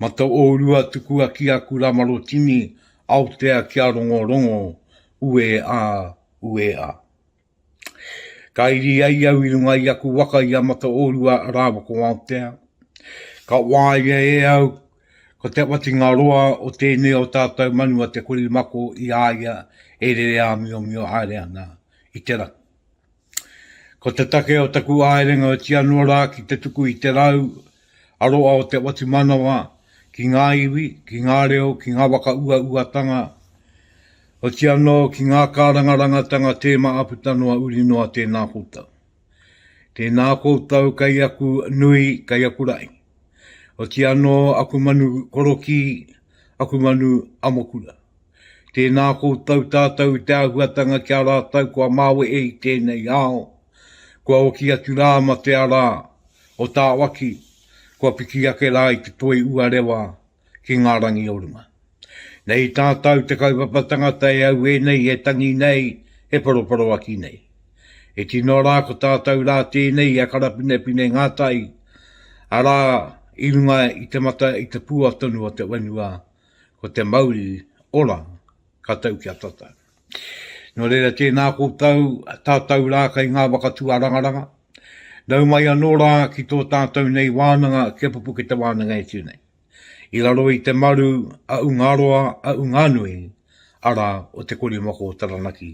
Ma to ourua tukua ki aku ramarotini Aotea kia rongorongo ue a, ue a. Ka iri ai au i runga i aku waka i a Mataorua rawa ko Aotea. Ka waia e au ko te watinga roa o tēnei o tātou manu a te korimako i a ia e rere āmiomio aere ana i te rangi. Ko te take o taku āerenga o tia noa rā ki te tuku i te rau a roa o te whatumanawa ki ngā iwi, ki ngā reo, ki ngā whakauauatanga, oti anō ki ngā kārangarangatanga tēma a puta noa uri noa tēnā koutou. Tēnā koutou kei aku nui, kei aku rae. Oti anō aku manu korokī, aku manu amokura. Tēnā koutou tātou i te āhuatanga ki a rātou kua māwehe i tēnei ao, kua oki atu rā ma te ara o tāwaki, kua piki ake rā i te toi uarewa ki ngā rangi o runga. Nei tātou te kaupapa tangata e auē nei e tangi nei e poroporoaki nei. E tino rā ko tātou rā tēnei a Karapinepine Ngatai, arā i runga i te mata i te pua tonu o te whenua ko te mauri ora ka tau ki a tatau. Nō reira tēnā koutou tātou rā kai ngā waka tuarangaranga, nau mai anō rā ki tō tātou nei wānanga kia pupu ki te wānanga e tū nei. I raro i te maru a Ungaroa a Unganui, ara o te korimako o Taranaki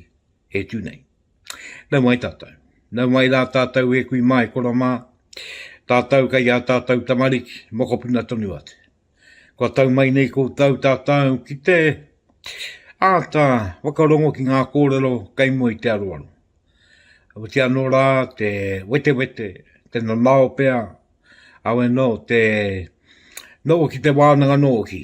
e tū nei. Nau mai tātou. Nau mai rā tātou e kui mai, kora mā, tātou kai a tātou tamariki, mokopuna tonu atu. Kua tau mai nei koutou tātou ki te āta whakarongo ki ngā kōrero kei mua i te aroaro. Awiti anō rā te wetewete, te nanao pea, au e nō te nō ki te wānanga nō ki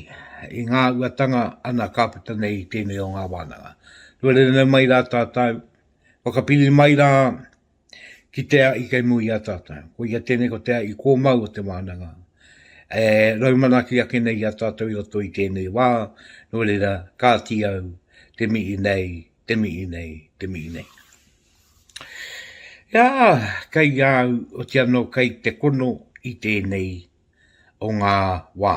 i ngā uatanga ana kāpita nei i tēnei o ngā wānanga. Tuarere mai rā tātou, whakapiri mai rā ki te aʻi kei mui i a tātou. Ko ia tēnei ko te aʻi kōmau o te wānanga. E raumanaki ake nei i a tātou i roto i tēnei wā, nō reira, kāti au, te mihi nei, te mihi nei, te mihi nei. Ia, kei au, o te anō, kei te kono i tēnei o ngā wā.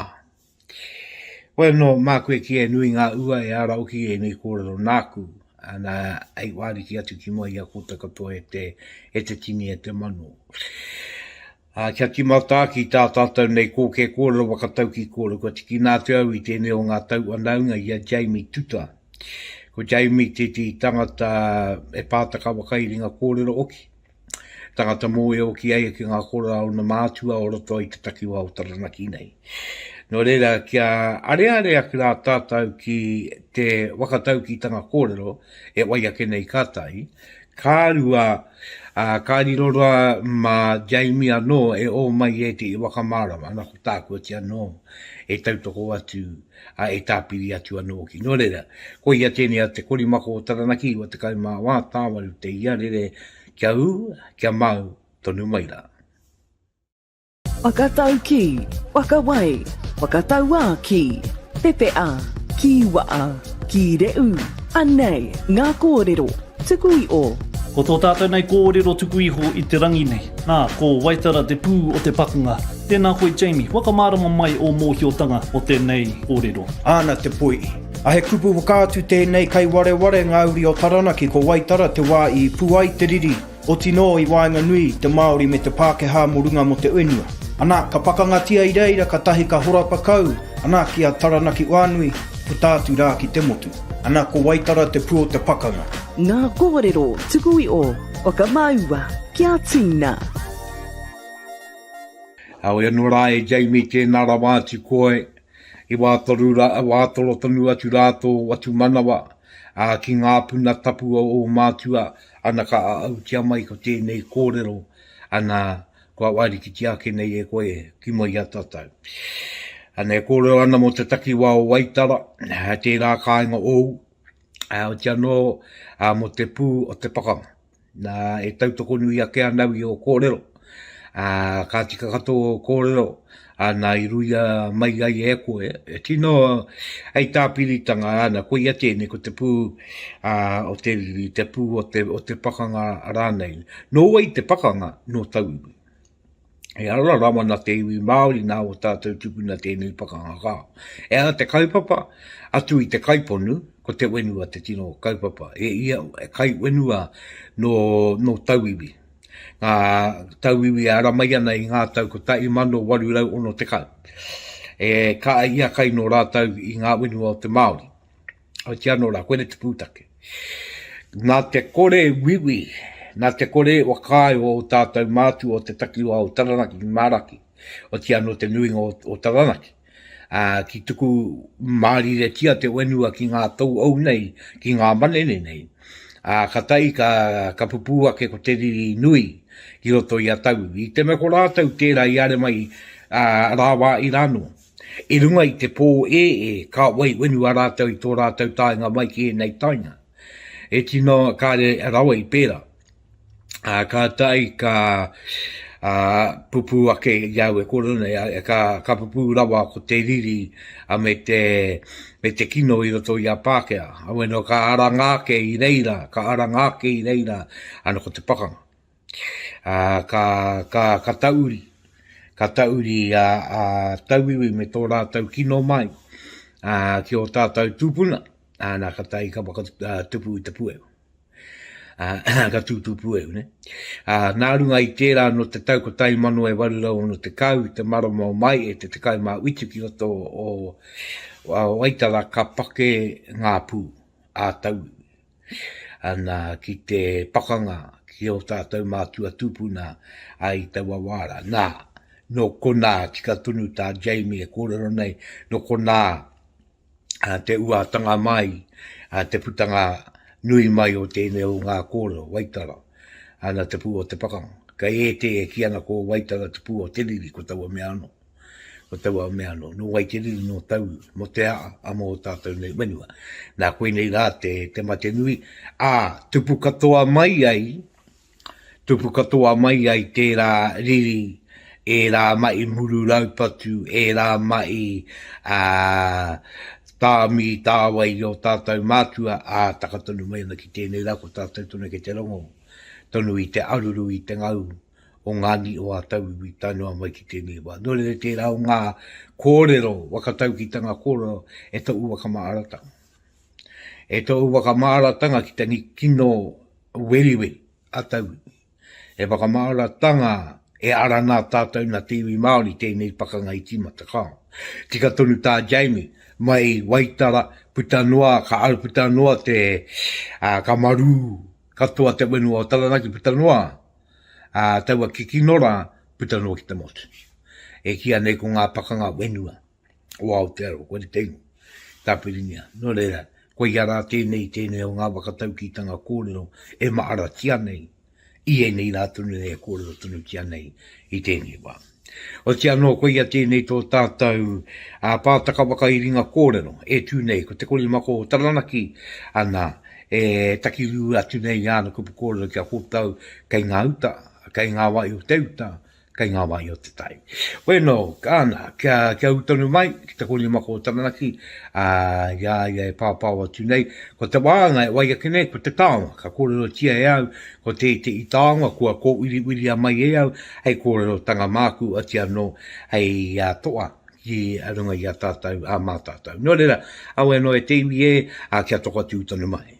Koe anō māku e kīia e nui ngā ua e ara hoki i ēnei kōrero nāku, ana hei wāriki atu ki mua i a koutou katoa e te, e te tini, e te mano. Ā, kia tīmata ki tā tātou nei kōkē kōrero whakataukī kōrero, kua tikina atu au i tēnei o ngā tauwhanaunga i a Jamie Tuta. Ko Jamie tētehi tangata e pātaka whakairinga kōrero hoki. tangata mōio ki ai ki ngā kora o na mātua o roto i te takiwa o Taranaki nei. Nō reira, kia arearea ki rā tātou ki te wakataukitanga kōrero e wai ake nei ka tahi, ka rua, a, ka riro rā mā Jamie anō e o mai e te i wakamārama, ana ko tākuati anō e tautoko atu ā, e tāpiri atu anō hoki. Nō reira, ko ia tēnei a te korimako o Taranaki ua tekau mā wā tāwaru te ia rere kia ū, kia māu tonu mai rā. Whakataukī, whakawai, whakatauā ki, pepeā, kīwaā, kīreū, anei ngā kōrero. Tuku i o. Ko tō tātou nei kōrero tuku iho i te rangi nei. Nā, ko Waitara te pū o te pakanga. Tēnā koe Jamie, whakamārama mai ō mōhiotanga o tēnei kōrero. Āna te poi. A he kupu whakaatu tēnei kai wareware ngā uri o Taranaki ko Waitara te wā i pu ai te riri, otinō i waenganui i te Māori me te Pākehā mo runga mo te uenua. Anā, ka pakangatia i reira katahi ka horapa kau, anā ki a Taranaki Wānui, puta atu rā ki te motu. Ana ko Waitara te pu o te pakanga. Nga korero tuku i o Whakamaua kia tina. Heoi anō rā e Jamie tēnā rawa atu koe i wātoru rā, wā toro tonu atu rā tō Watumanawa, ā, ki ngā puna tapu o ō mātua, ana ka āautia mai ko tēnei kōrero, ana, Kua wārikitia ake nei e koe ki mua i a tātou. Ana e kōrero ana mō te takiwā o Waitara, tērā kāinga ōu, otia anō mō te pū o te pakanga. Nā, e tautoko nui ake ana au i ō kōrero, ka tika katoa ō kōrero, Ana i ruia mai ai e koe, e tino hei tāpiritanga ana, koia tēnei ko te pū a, o te riri, te pū o te, o te pakanga rānei. Nō wai te pakanga? Nō tauiwi. E ara rawa na te iwi Māori nā o tātou tupuna tēnei pakanga kā. E ara te kaupapa, atu i te kaiponu, ko te wenua te tino kaupapa. E ia, e kai wenua nō, nō tauiwi. ngā tauiwi e ara mai ana i ngā tau 1860, e kaha i a Kaino rātou i ngā whenua o te Māori. Oitia anō rā, koinei te pūtake. Nā te kore wiwi, nā te kore whakaae o ō tātou mātua o te takiwā o Taranaki ki Māraki, otiia anō te nuinga o Taranaki. Ā, ki tuku māriretia te whenua ki ngā tauau nei, ki ngā manene nei. Ā, ka tae, ka, ka pupū ake ko te riri nui ki roto i a Tau. I te mea ko rātou tērā i are mai ā, rāwā i rānō. I runga i te pō e e, ka wai whenua rātou i tō rātou taenga mai ki ēnei taenga. E tino kāre rawa i pērā. uh, ka tai, ka uh, pupu ake i au e kore nei, uh, ka, ka pupu rawa ko te riri a uh, me te me te kino i roto i a Pākehā. Awe no ka aranga ake i reira, ka aranga ake i reira, ana ko te pakanga. Uh, ka, ka, ka tauri, ka tauri a uh, uh, tauiwi me tō rātau kino mai uh, ki o tātau tūpuna, ana ka tai ka whakatupu uh, i te puewa. uh, ka tūtū puehu, ne? Uh, nā runga i tērā no te tau 1860 i te marama o mai e te te kai mā witu ki roto o, o Waitara ka pake ngā pū a tau ana ki te pakanga ki o tātou mātua tūpuna ai taua wāra. Nā, no konā tika tonu tā Jamie e kōrero nei, no konā te uatanga mai, te putanga nui mai o tēnei o ngā kōrero, Waitara, ana te pū o te pakanga. Kei ētē e kī ana ko Waitara te pū o te riri, ko taua mea anō. Ko taua mea anō, nō wai te riri, nō tau, mō te aa, a mō o tātou nei whenua. Nā koinei rā te mate nui, ā, tupu katoa mai ai Tupu katoa mai ai tērā riri, ērā maʻi muru raupatu, ērā maʻi tāmi tāwai i ō tātou mātua, ā, taka tonu mai ana ki tēnei rā ko tātou tonu kei te rongo tonu i te aruru i te ngau o ngā niu o ā tauiwi tae noa mai ki tēnei wā. Nō reira tērā o ngā kōrero waka taukitanga kōrero e toʻu waka māratanga. E tōu whakamāratanga ki te kino weriweri a tauiwi. E whakamāratanga e ara nā tātou na te iwi Māori tēnei pakanga i tīmata kāo. Tika tonu tā Jamie, mai Waitara puta noa, ka ara puta noa te, ā, ka marū katoa te whenua o Taranaki puta noa, ā, taua kikinora puta noa ki te motu. E kīa nei ko ngā pakanga whenua. o Aotearoa, kore te ingoa, Tāpiringia. Nō reira, koia rā tēnei, tēnei o ngā whakataukitanga kōrero e maharatia nei i ēnei rā tonu nei e kōrero tonutia nei i tēnei wā. Oti anō, koia tēnei tō tātou a pātaka whakairinga kōrero e tū nei, ko te korimako o Taranaki, ana, e takirū atu nei i āna kupu kōrero kia kōtau kei ngā uta, kei ngā wai o te uta, kei ngā wāhi o te tai. Wēnō, ana, kia, kia ū tonu mai ki te kōrima ko Taranaki, ā, i a ia e pāpāo atu nei, ko te wānga e wai ake nei, ko te taonga, ka kōrerotia e au, ko te te i taonga, kua kōwiriwiria mai e au, hei kōrerotanga māku, oti anō, hei a toa, ki a runga i a tātou, a mā tātou. Nō reira, a wēnō e te iwi e, ā, kia toko atu tonu mai.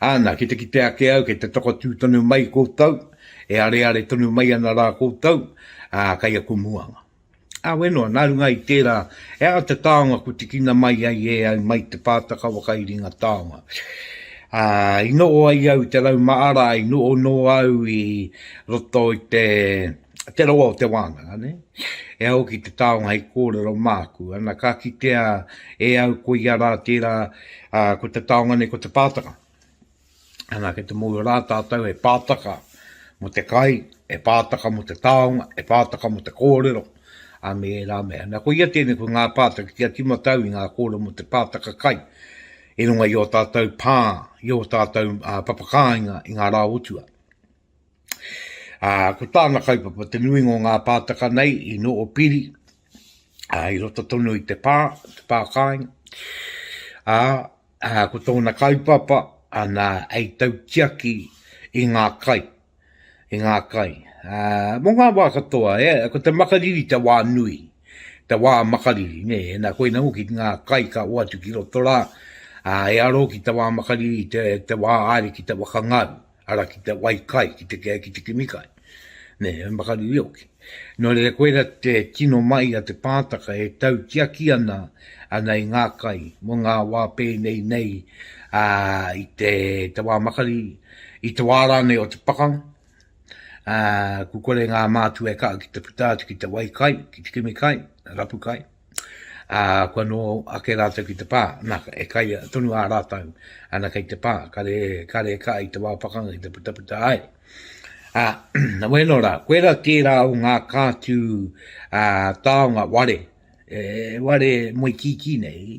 Ana, ki te kite ake au, kei te takotū tonu mai koutou, e areare tonu mai ana rā koutou, ā, kei aku muanga. Ā, wē noa, nā runga i tērā, he aha te taonga kua tikina mai ai e au mai te pātaka whakairinga taonga? Ā, i noho ai au i te rau maara, i noho noa au i roto i te. te rawa o te wānanga, ne? E au ki te taonga hei kōrero māku, ana ka kitea e au ko ia rā tērā, ā, ko te taonga nei ko te pātaka. Ana ki te mōhio rā tātou he pātaka mō te kai, he pātaka mō te taonga, he pātaka mō te kōrero, a me ērā mea. Ana ko ia tēnei ko ngā pātaka ki a timatau i ngā kōrero mō te pātaka kai, i runga i o tātou pā, i o tātou uh, papakāinga i ngā rā o tua. Ā, ko tāna kaupapa te nuinga o ngā pātaka nei i noho piri, ā, i roto tonu i te pā, te pā kāinga. Ā, ā, ko tōna kaupapa, ana, hei tautiaki i ngā kai, i ngā kai. Ā, mō ngā wā katoa, e, ko te makariri te wā nui, te wā makariri, nē, nā, koinā hoki ngā kai ka hoatu ki roto rā, ā, e aro ki te wā makariri, te, te wā āre ki te whakangaru. ara ki te wai kai, ki te kea, ki te kimi kai, nē, he makariri hoki. Nō reira, koira te tino mahi a te pātaka e tautiaki ana, ana i ngā kai, mō ngā wā pēnei nei, ā, i te, te wā makariri, i te wā rānei o te pakanga, ā, kua kore ngā mātua e kaha ki te puta atu ki te wai kai, ki te kimi kai, rapu kai. ā, kua nō ake rātou ki te pā, nā, e kai tonu ā rātou, ana kei te pā, kare, kare ka i te wā pakanga ki te putaputa ai. Ā, na wēno rā, koera tērā o ngā kātū ā, taonga ware, e ware moe kīkī nei,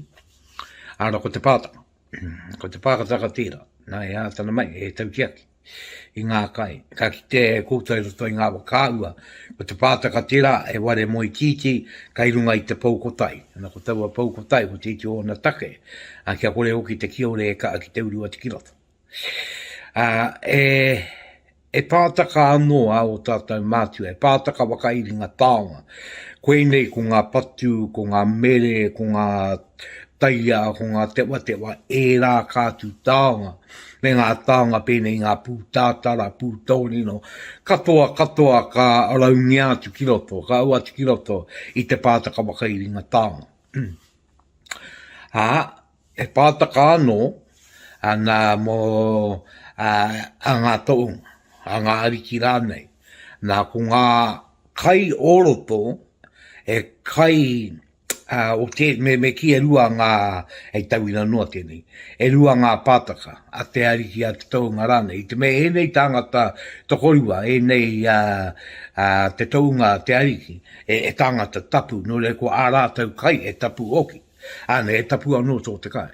ā, ko te pātaka. Ko te pākataka tērā, nā e ātana mai, e taukiaki i ngā kai. Ka kite e koutou roto i ngā whakaahua, ko te pātaka tērā e ware moe tītī kai runga i te pou kotai. Ana ko taua pou kotai, ko tītī ōna take, a, kia kore hoki te kiore e kaha ki te uru atu ki roto. A, e, He pātaka anō ā ō tātou mātua, he pātaka whakairinga taonga. Koinei ko ngā patu, ko ngā mere, ko ngā taiā, ko ngā tewatewa, ērā ka atu taonga, me ngā taonga pēnei i ngā pūtātara, pūtōrino, katoa katoa ka raungia atu ki roto, ka ū atu ki roto i te pātaka whakairinga taonga. Ā. E pātaka anō ana mō a ngā tohunga, a ngā ariki rānei, nā, ko ngā kai o roto, he kai o te, me kī e rua ngā, hei tauira noa tēnei, e rua ngā pātaka a te ariki, a te tohunga rānei. I te mea ēnei tāngata tokorua, ēnei te tohunga, te ariki, e tāngata tapu, nō reira ko ā rātou kai e tapu hoki. Āne, e tapu anō tō te kai.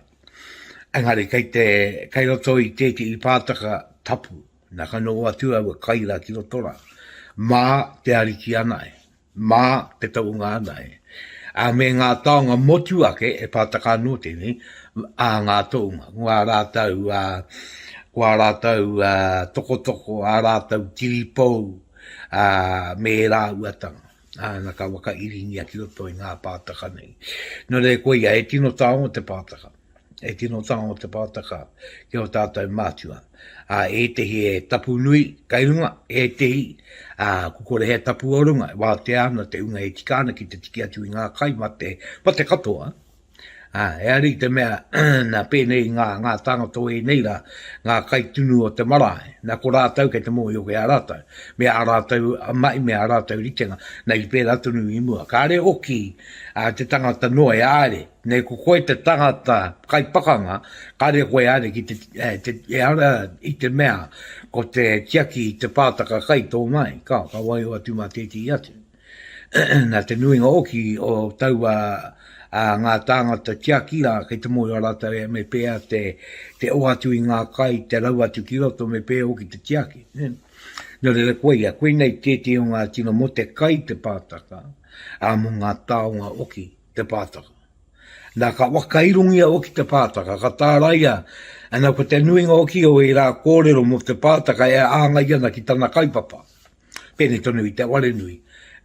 Engari, kei, te, kei roto i tētehi pātaka tapu, nā ka noho atu aua kai rā ki roto rā. Mā te ariki anae, mā te taunga anae, a me ngā taonga motu ake e pātaka anō tēnei, a ngā tounga, ngā rātau, a, kua rātau a, tokotoko, a rātau tiripou, a, me rāua tanga. Ā, na ka whakairingia ki roto i ngā pātaka nei. Nō reira, koia, he tino taonga te pātaka. He tino taonga te pātaka ki o tātou mātua. Ā, ētehi e tapu nui kai runga, ētehi, ā, ko kore he tapu o runga, e wātea ana te hunga e tika ana ki te tiki atu i ngā kai mate, mate katoa, Ā, e ai i te mea, nā pēnei ngā, ngā tāngata o ēnei rā, ngā kaitunu o te marae, nā ko rātou kei te mōhio ki a rātou, me ā rātou mahi, me ā rātou ritenga, nei i pērā tonu i mua. Kāre hoki ā te tangata noa e āre, nei ko koe te tangata kai pakanga, kāre koe e āre ki te, te, e ara i te mea ko te tiaki i te pātaka kai tō mai, ka, ka waio atu mā tētehi atu. Nā te nuinga hoki o taua ngā tāngata tiaki rā kei te mōhio rātou me pēhea te oa atu i ngā kai, te rau atu ki roto, me pēhea hoki te tiaki. Nō reira koia, koinei tētehi o ngā tino mō te kai te pātaka, ā, mō ngā taonga hoki te pātaka. Nā, ka whakairongia hoki te pātaka, ka tāraia, ana, ko te nuinga hoki o ērā kōrero mō te pātaka e āngai ana ki tana kaupapa. Pēnei tonu i te Warenui.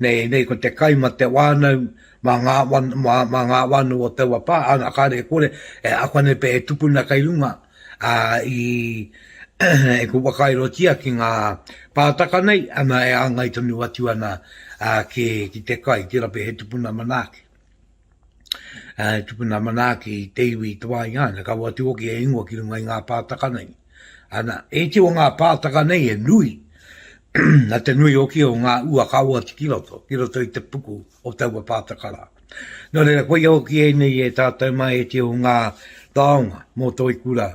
Nei, nei ko te kai ma te wānau, ma ngā, ma, ma ngā wānau o taua pā, ana kāre kore, e ako nei pe e tukuna kai runga, a, i, e ku whakairotia ki ngā pātaka nei, ana e āngai tonu atu ana a, ki, ki te kai, tira pea he tupuna manaaki. e tupuna manaaki i te iwi i te wā i haina, ka watu hoki e ingoa ki runga i ngā pātaka nei. Ana, e iti o ngā pātaka nei e nui, na te nui hoki o ngā ua ka oati ki roto, ki roto i te puku o taua pātaka rā. Nō reira, koia hoki ēnei e tātou mā e te o ngā taonga mō toi kura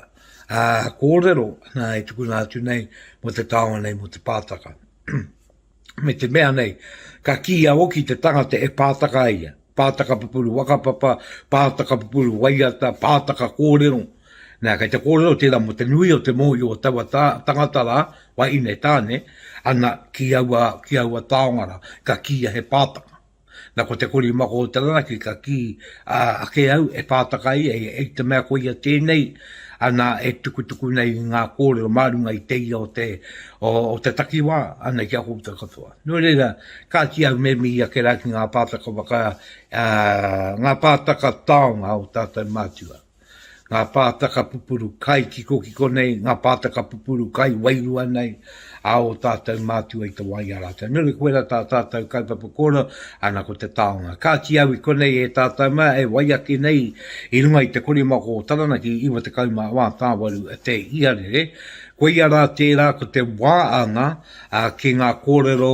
ā, kōrero nā e tukuna atu nei mō te taonga nei mō te pātaka. me te mea nei, ka kīia hoki te tangata e pātaka ai ia, pātaka pupuru whakapapa, pātaka pupuru waiata, pātaka kōrero, nā, kei te kōrero tērā mō te nui o te mōhio o taua tā, tangata rā, wahine, tāne, ana, ki aua, ki aua taonga rā, ka kīia he pātaka. Na ko te kori mako o Taranaki ka ki a ake au e whātaka ai e i te mea ko ia tēnei ana e tukutuku nei i ngā kōrero mā runga i te ia o te o te takiwā ana ki a koutou katoa. Nō reira, kāti au me mihi ake rā ki ngā pātaka waka, ā, ngā pātaka taonga o tātou mātua. ngā pātaka pupuru kai kikokiko nei, ngā pātaka pupuru kai wairua nei, a ō tātou mātua i te wā i a rātou. Nuri, koira tā tātou kaupapa kōrero, ana ko te taonga. Kāti au i konei e tātou mā, e wai ake nei i runga i te korimako o Taranaki 94 tāwaru te iarere, koia rā tērā ko te wā anga ki ngā kōrero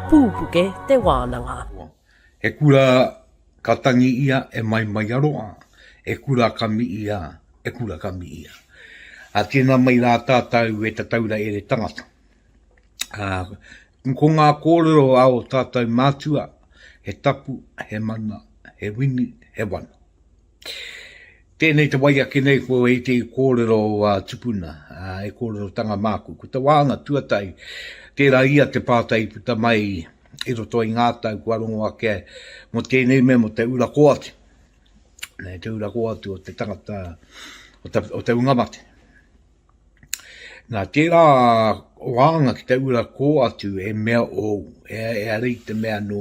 Pūpuke te wānanga. He kura ka tangi ia e Maimaiaroa, e kura ka mi ia, e kura ka mi ia. A tēnā mai rā tātou e Tataura Ere Tangata. A, ko ngā kōrero a o tātou mātua, he tapu, he mana, he wini, he wana. Tēnei te wai ake nei ko e te kōrero a tupuna, e kōrerotanga māku. Ko te wāhanga tuatahi, tērā ia te pātai i puta mai i roto i ngā tau kua rongo ake mō tēnei mea mō te ura kō atu. Nei te ura kō atu o te tangata, o te, o te unga mate. Nā tērā wānanga ki te ura kō atu he mea ōu, ehara i te mea nō,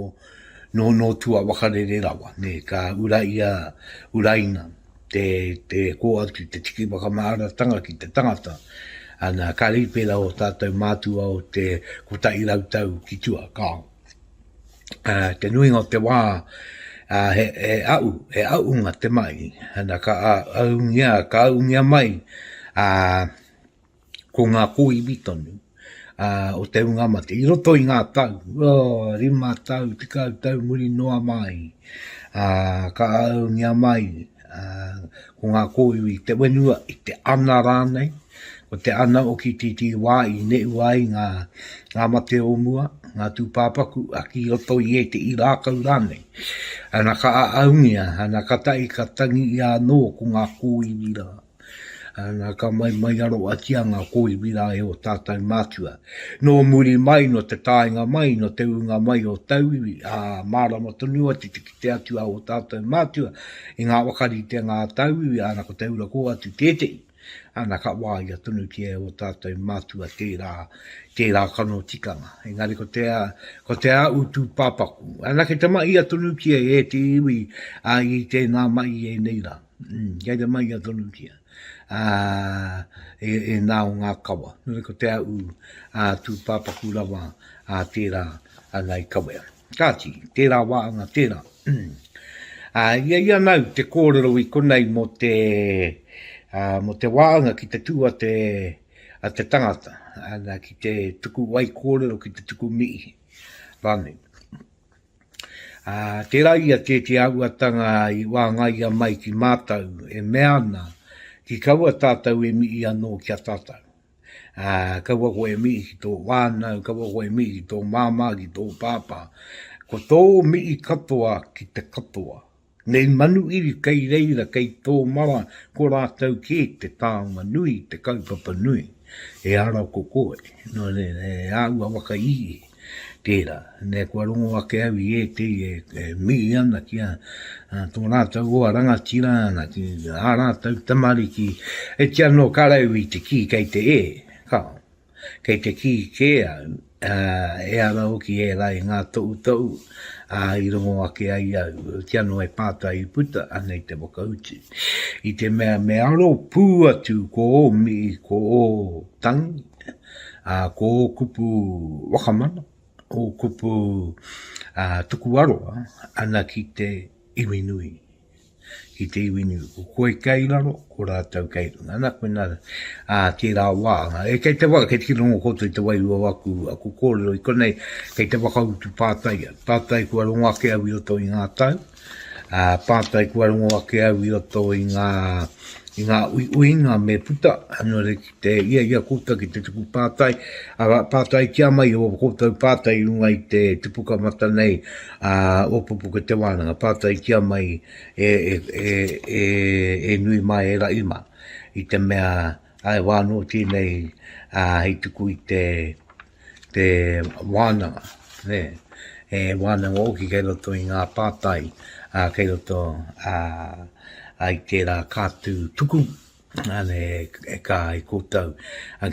nō, nō tua wakarere rawa, nē, ka ura i a Uraina te, te kō atu, te tiki whakamāratanga ki te tangata, ana, ka rīpera ō tātou mātua o te kotahi rau tau ki tua, kāo. uh, te nuinga o te wā, uh, he, he au, he aunga te mai, ana ka aungia, ka aungia mai, uh, ko ngā kōiwi tonu, uh, o te unga mate, i roto i ngā tau, oh, rima tau, tekau tau muri noa mai, uh, ka aungia mai, Ā, ko ngā kōiwi i te whenua, i te ana rānei, ko te ana o ki titī wā i neʻu ai ngā, ngā mate o mua, ngā tūpāpaku, a ki roto i ēteʻi rākau rānei. Ana ka ʻaʻaungia, ana ka taʻi ka tangi ʻia anō ko ngā kōiwi rā. Ana, ka mai mai aro a tia nga koiwi ra e o tatou matua. No muri mai, no te taenga mai, no te uunga mai o tauiwi, a, marama tonu atu te kite atu a o tatou matua i nga whakaritenga a tauiwi, ana ko te ura ko atu tetehi. Ana, ka waia tonutia e o tatou matua tera, tera kano tikanga. Engari ko te, ko te aau tupapaku. Ana, ke tama ia tonutia e te iwi, a i tena mai i enei ra. Mm, kei te maia tonu kia. Ā, e, e nā o ngā kawa. Nui ko te au, ā, tū pāpaku rawa, ā, tērā, ā, nai kawea. Kāti, tērā wā anga, tērā. Mm. Ā, ia ia nau te kōrero i konei mō te, ā, mō te wā anga ki te tū a te, a te tangata, ana ki te tuku wai kōrero, ki te tuku mihi. Rānei. Ā, tērā ia tēti āhuatanga i wāngaia mai ki mātou, e mea ana, Ki kaua tātou e mihi anō ki a tātou. Ā, kaua koe e mihi ki tō whānau, kaua koe e mihi ki tō māmā, ki tō pāpā. Ko tō mihi katoa ki te katoa. Nei Manuiri kei reira kei tō mara ko rātou kē te taonga nui, te kaupapa nui e ara ko koe, nō reira e āua waka i tērā. Nei kua rongo ake au i ētehi e mihi ana ki a tō rātou hoa rangatira ana ki ā rātou tamariki e tia nō ka rau i te kī kei te e, ka. Kei te kī kē au, ā, ehara hoki ērā i ngā tohutohu, ā, i rongo ake ai au, kia noa e pātai i puta, anei te whakautu. I te mea me aro pū atu ko ō mihi, ko ō tangi, ā, ko ō kupu wakamana, ō kupu, ā, tuku aroha, ana ki te iwi nui. ki te iwi niu. Ko koe kei raro, ko rātou kei runga. Ana koina ā tērā wā. E kei te waka, kei te kirongo koutou i te wairua o aku, aku kōrero. I konei, kei te whakautu pātai au. Pātai kua rongo ake au i roto i ngā tau, ā, pātai kua rongo ake au i roto i ngā, i ngā uiuinga me puta, nō reira, Te hiahia koutou ki te tuku pātai, arā, pātai kia mai o koutou pātai i runga i te tipuka mata nei o Pupuke-te Wānanga, pātai kia mai e nui mā, e raʻi mā, i te mea āe wā anō tēnei hei tuku i te wānanga, he wānanga hoki kei roto i ngā pātai kei roto i tērā kātū tuku. Āne e kā ai koutou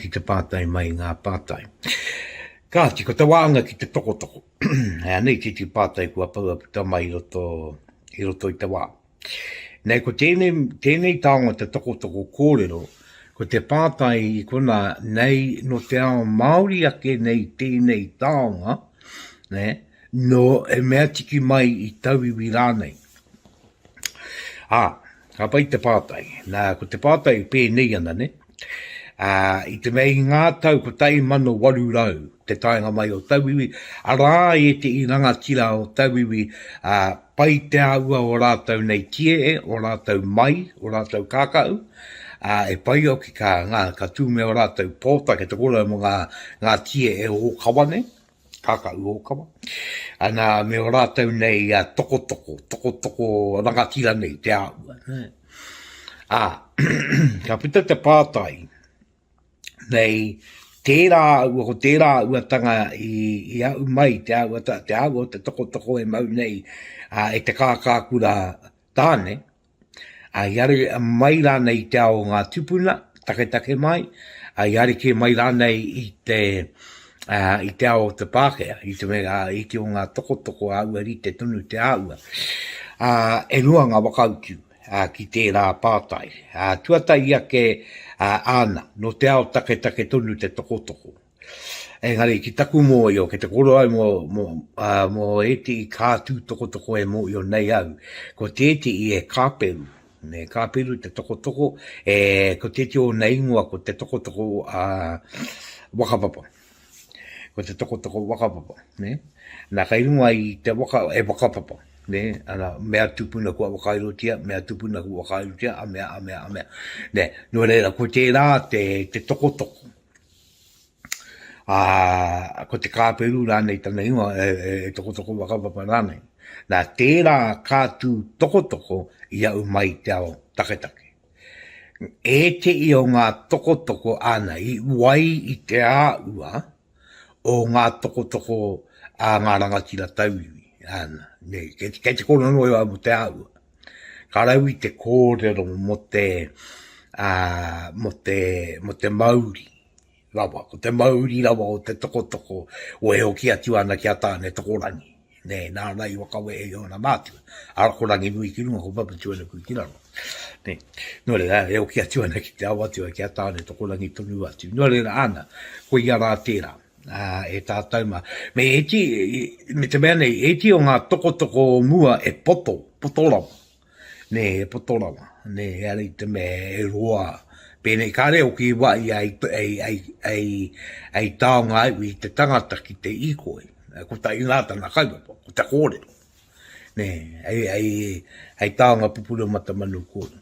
ki te pātai mai ngā pātai. Kāti, ko te wānga ki te tokotoko. Hei ana i titi pātai kua paua puta mai i roto, i roto i te wā. Nei, ko tēnei, tēnei taonga te tokotoko kōrero, ko te pātai i kona, nei, no te ao Māori ake nei tēnei taonga, ne, no e mea tiki mai i tauiwi rānei. Ā, Ka pai te pātai. Nā, ko te pātai pēnei ana, ne? Ā, i te mea i ngā tau 1800, te taenga mai o tauiwi, arā ētehi rangatira o tauiwi, ā, pai te āhua o rātou nei kiehe, o rātou mai, o rātou kākahu, ā, e pai hoki ka, ngā, ka tū me ō rātou pōtake, te kōrero mō ngā, ngā kiehe ōkawa nei. Kākahu ōkawa. Ana me ō rātou nei tokotoko, tokotoko rangatira nei te āhua. Ā, ka puta te pātai, nei tērā āhua, ko tērā āhuatanga i, i au mai, te āhua, te āhua o te tokotoko e mau nei a, e te kākākura tāne, i are mai rānei i te ao o ngā tupuna, taketake mai, i areke mai rānei i te, uh, i te ao o te Pākehā, i te mea i te o ngā tokotoko āua rite tonu te āhua. Uh, e rua ngā whakautu uh, ki tērā pātai. Uh, tuatahi ake uh, āna, no te ao taketake tonu te tokotoko. Engari ki taku mōio, kei te koro au mō, mō, ā, mō ētehi kātū tokotoko e mōio nei au, ko tētehi e kāperu, e kāperu te tokotoko, e, ko tētehi o ōna ingoa ko te tokotoko, ā, whakapapa. Ko te tokotoko whakapapa, ne? Nā, kei runga i te waka, e whakapapa, ne? Ana, mea tupuna kua whakairotia, mea tupuna kua whakairotia, a mea, a mea, a mea. Ne, nō reira, ko tērā te, te tokotoko, ā, ko te kāperu rānei tana ingoa, e, e, e tokotoko whakapapa rānei. Nā, tērā ka tū tokotoko i au mai te ao taketake. E te i o ngā tokotoko āna i wai i te āua o ngā tokotoko a ngā rangatira tauiwi, āna, nei, kei te koronoa au mō te āua. Ka rau i te kōrero mo te, mo te, mo te mauri rawa, ko te mauri rawa o te tokotoko o e hoki atu ana ki a Tānetokorangi, nē, nāna i whakawehe i ōna mātua, ara ko Ranginui ki runga, ko Papatuanuku ki raro, nē. Nō reira, e hoki atu ana ki te ao atu a ki a Tānetokorangi tonu atu. Nō reira, āna, koia rā tērā. Ā, e tātou mā. Me iti, me te mea nei, iti o ngā tokotoko o mua e poto, poto rawa. Nē, e poto rawa. Nē, ara i te mea e roa. Pēnei, kāre o ki wā i ai, ai, ai, ai, ai taonga ai i te tangata ki te ikoi. Ko ta inā tana kaupapa, ko te kōrero. Nē, ai, ai, ai taonga pupuru mata manu kōrero.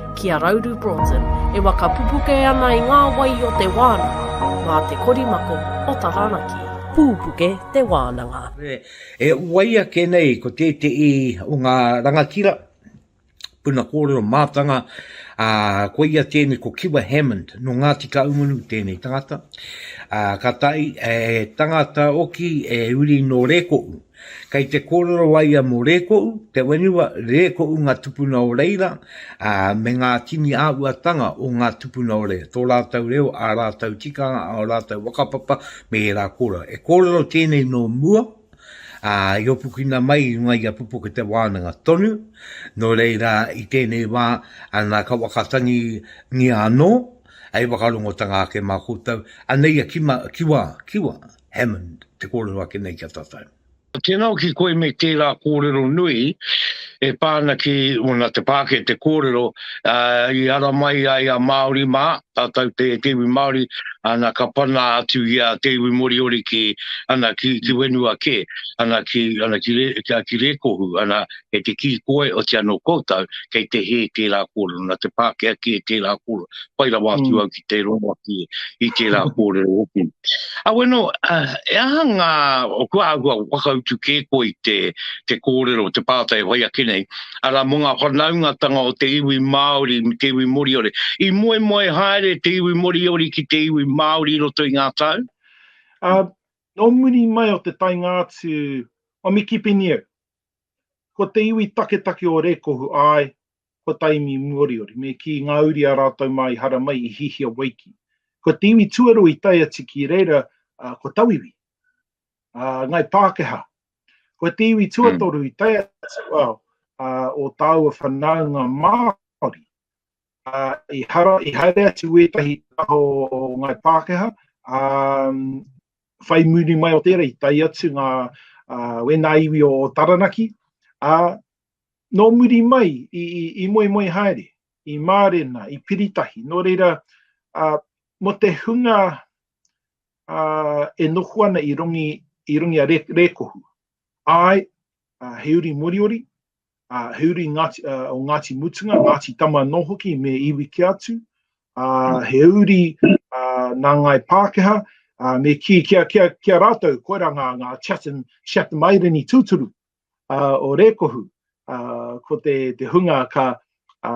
ki a Rauru Broughton, e whakapupuke ana i ngā wai o te wānanga mā te korimako o Taranaki. Pupuke te wānanga. E whai ake nei ko tētehi o ngā rangatira puna kōrero mātanga, ā, koia tēnei ko Kiwa Hammond, nō Ngāti Kahungunu tēnei tangata, ā, ka taea e tangata hoki e uri nō Rēkohu. Kei te kōrero a ia mō Rēkoʻu, te whenua, Rēkoʻu ngā tupuna o reira, ā, me ngā tini āhuatanga o ngā tupuna o reira, tō rātou reo, ā rātou tikanga, ā, ō rātou whakapapa me ērā kōrero. E kōrero tēnei nō mua, ā, i hopukina mai i runga i a Pupuke Te Wānanga tonu, nō reira i tēnei wā, ana ka wakatangingia anō, hei whakarongotanga ake mā koutou, anei a Kima, Kiwa, Kiwa, Hammond, te kōrero ake nei ki a tātou. Tēnā hoki koe me tērā kōrero nui e pā ana ki ōna te pāke te kōrero i ara mai ai a Māori mā, tātou te te iwi Māori, ana ka pana atu i a te iwi Moriori ki, ana ki, ki whenua kē, ana ki, ana ki, ki, ki Rēkohu, ana e te kī koe, o te anō koutou, kei te hē tērā kōrero, nā te Pākehā kē tērā kōrero, pai rawa atu mm. au ki te rongo atu i tērā kōrero hoki. A weno, uh, e aha ngā, o kua ahua wakautu kē koe i te, te kōrero, te pātai e whai ake nei, ara mō ngā whanaungatanga o te iwi Māori, me te iwi Moriori, i moe moe haere te iwi Moriori ki te iwi Māori roto i ngā tau? Uh, nō muri mai o te tainga atu o Miki Piniu, Ko te iwi taketake o Rekohu, ae, ko Taimi Moriori, me ki nga uri a ratou ma i hara mai i hihia wai ki. Ko te iwi tuarua i tae atu ki reira, ko Tauiwi, a ngai Pakeha. Ko te iwi tuatoru i tae atu ao o taua whanaunga Maori, a i hara, i haere atu wetahi taho o ngai Pakeha, a whai muri mai o tērā i tae atu ngā wēnā iwi o Taranaki, ā, nō muri mai i, i, i moemoe haere, i mārena, i piritahi, nō reira, ā, mo te hunga ā, e noho ana i rongi, i rongi a Re, Rekohu, āe, ā, he uri moriori, ā, he uri Ngāti, ā, o Ngāti Mutunga, Ngāti Tama anō hoki me iwi kē atu, ā, he uri ā, nā Ngāi Pākehā, ā, me kī ki a, ki a, ki a rātou, koirā ngā, ngā Chatham, Chatham Islander tūturu, ā, o Rēkohu, ā, ko te, te hunga ka, ā,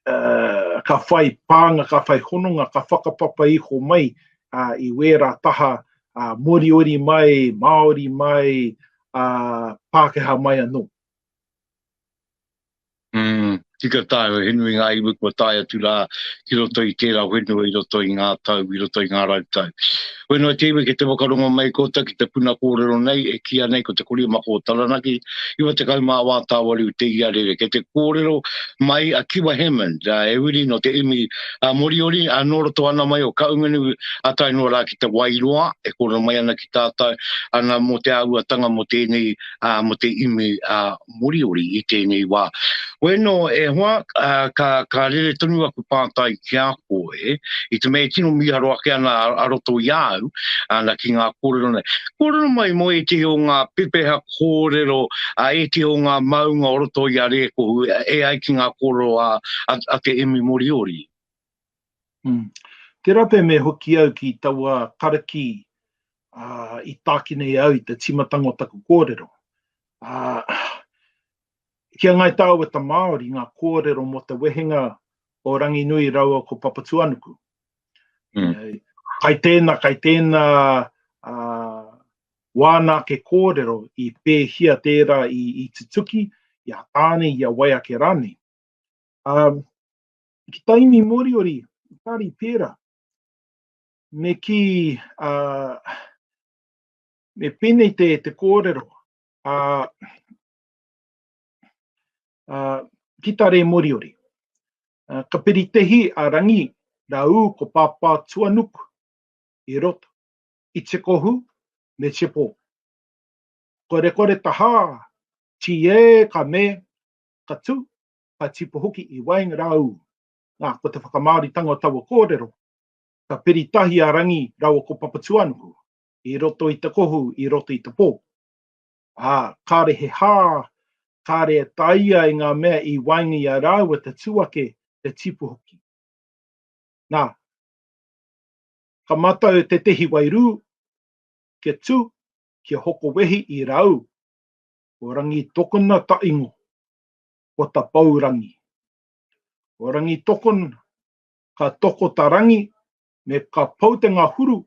uh, ka whai pānga, ka whai hononga, ka whakapapa iho mai uh, i wērā taha uh, moriori mai, Māori mai, uh, Pākehā mai anō. Mm, tika tae, he nui ngā iwi kua tae atu rā ki roto i tērā whenua, i roto i ngā tau, i roto i ngā rautau. Whenua-te iwi ki te whakarongo mai kota ki te puna kōrero nei e kīa nei ko te kori mako o Taranaki, 94 tāwariu te iarere. Kei te kōrero mai a Kiwa Hammond, he wiri nō te iwi Moriori, nō roto ana mai o Kaungunu tae noa rā ki te Wairoa, e kōrero mai ana ki tātou ana mō te āhuatanga mō tēnei, mō te iwi Moriori i tēnei wā. Wēnō e hoa, ka, ka rere tonu aku pātai ki a koe, i te mea e tino mīharo ake ana a roto i a au, ana ki ngā kōrero nei. Kōrero mai mō ētehi o ngā pepeha kōrero, a ētehi o ngā maunga o roto i a Rēkohu, e ai ki ngā kōrero a, a, a te Emi Moriori. Umm. Tera pea me hoki au ki taua karaki i takina i a au i te timatanga o taku korero. Ki a Ngai Taweta Maori nga korero mo te wehenga o Ranginui raua ko Papatuanuku. Kai tena, kai tena wana ake korero i pehia tera i tutuki, i a Tane, i a Waiake ranei. ki Taimi Moriori, Tari Pera, me ki, uh, me penei te, te kōrero, uh, uh, ki Tare Moriori. Uh, ka peritehi a Rangi, Rau, ko Pāpā Tuanuk, i roto, i te kohu, me te pō. Kore kore tahā, tīē ka me, ka tū, ka tipu hoki i waenga rāu. Nā, ko te whakamāoritanga o taua kōrero, ka piri tahi a Rangi rāua ko Papatūānuku i roto i te kohu, i roto i te pō. Ā, kāre he hā, kāre e tāia e ngā mea i waenga i a rāua te tū ake, te tipu hoki. Nā, ka matau tētehi wairū, kia tū, kia hoko wehi i rāu. Ko Rangi tokona taingo, ko ta pou rangi. Ko Rangitokon ka toko ta rangi me ka pou te ngahuru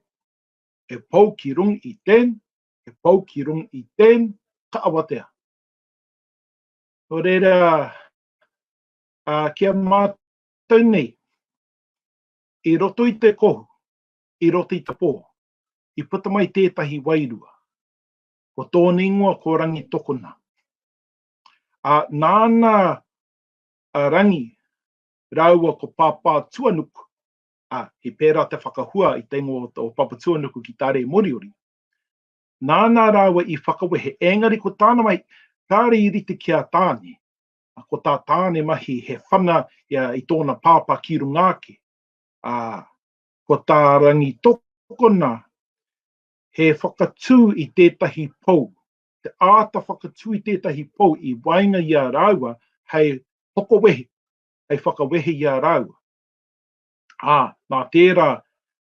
e pou ki rung i ten, e pou ki rung i ten, ka awatea. No reira, a ki a matou nei, i roto i te kohu, i roto i te po, i puta mai tetahi wairua. Ko tona ingoa ko Rangitokona. Ā, nāna a Rangi rāua ko Pāpātuanuku, ā, he pērā te whakahua i te ingoa o Papatuanuku ki tā Rē Moriori, nāna rāua i whakawehe, ēngari ko tāna mahi, kāore i rite ki a Tāne, ā, ko tā Tāne mahi he whana ia i tōna pāpā ki runga ake, ā, ko tā Rangi tokona he whakatū i tētahi pou, te āta whakatūi tētahi pou i waenga i a rāua hei hoko wehi, hei whakawehe i a rāua. Ā, nā tērā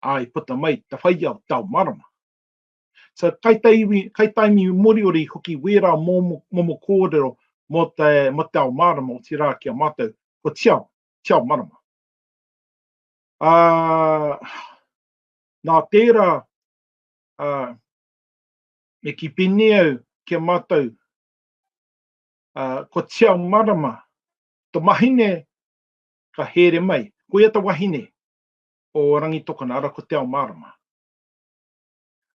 ā i puta mai te whaiao tao marama. So, kaitaiwi, kaitaimi Moriori i hoki wērā momo, momo kōrero mō te, mō te ao marama, otirā ki a mātou, ko tiao, tiao marama. Ā, nā tērā, ā, Me kipini au ki a matou, a, ko Tiao Marama, to mahine ka here mai. Koia ta wahine o Rangitokona, ara ko Tiao Marama.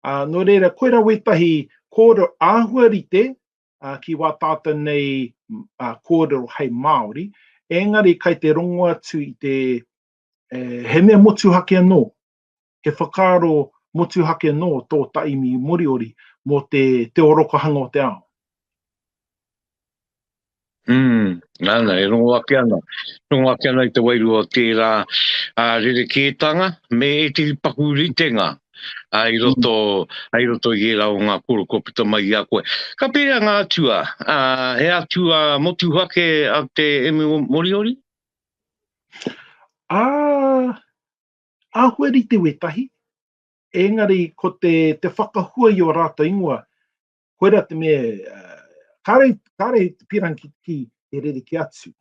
A, no reira, koira wetahi korero ahua rite, a, ki wa tatou nei, a, korero hei Maori, engari kai te rongo atu i te, e, he mea motuhake ano, he whakaaro motuhake nō tō taimi Moriori mō te te orokohanga o te ao. Mm, nana, e rongo ake ana. Rongo ake ana i te wairua o tērā a rerekētanga me ētehi paku ritenga a i roto, mm. i roto i ērā o ngā koro kua puta mai i a koe. Ka pērā ngā atua, a, he atua motuhake a te Emu Moriori? Ah, Āhua rite wētahi, engari ko te, te whakahua i o rātou ingoa, koira te mea, kāre, kāre te pīrang ki, ki te rere ki atu.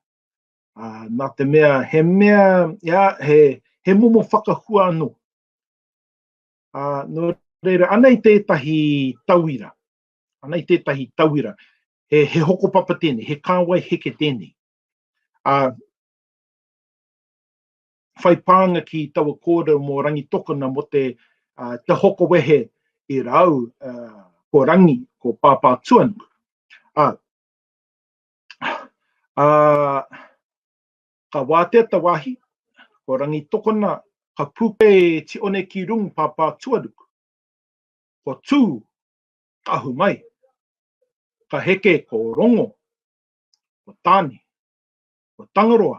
Uh, nā te mea, he mea, ia, he, he momo whakahua anō. Uh, no reira, anei tētahi tauira, anei tētahi tauira, he, he hokopapa tēnei, he kāwai heke tēnei. Uh, whai pānga ki taua kōrero mō Rangitokona mō te hoko wehe i rāu ko Rangi, ko Pāpā Tuanuku. Ā, ā, ka wātea te wāhi, ko Rangitokona, ka pūke e Tione ki rungu Pāpā Tuanuku. Ko Tū, ka ahu mai. Ka heke ko Rongo, ko Tāne, ko Tangaroa,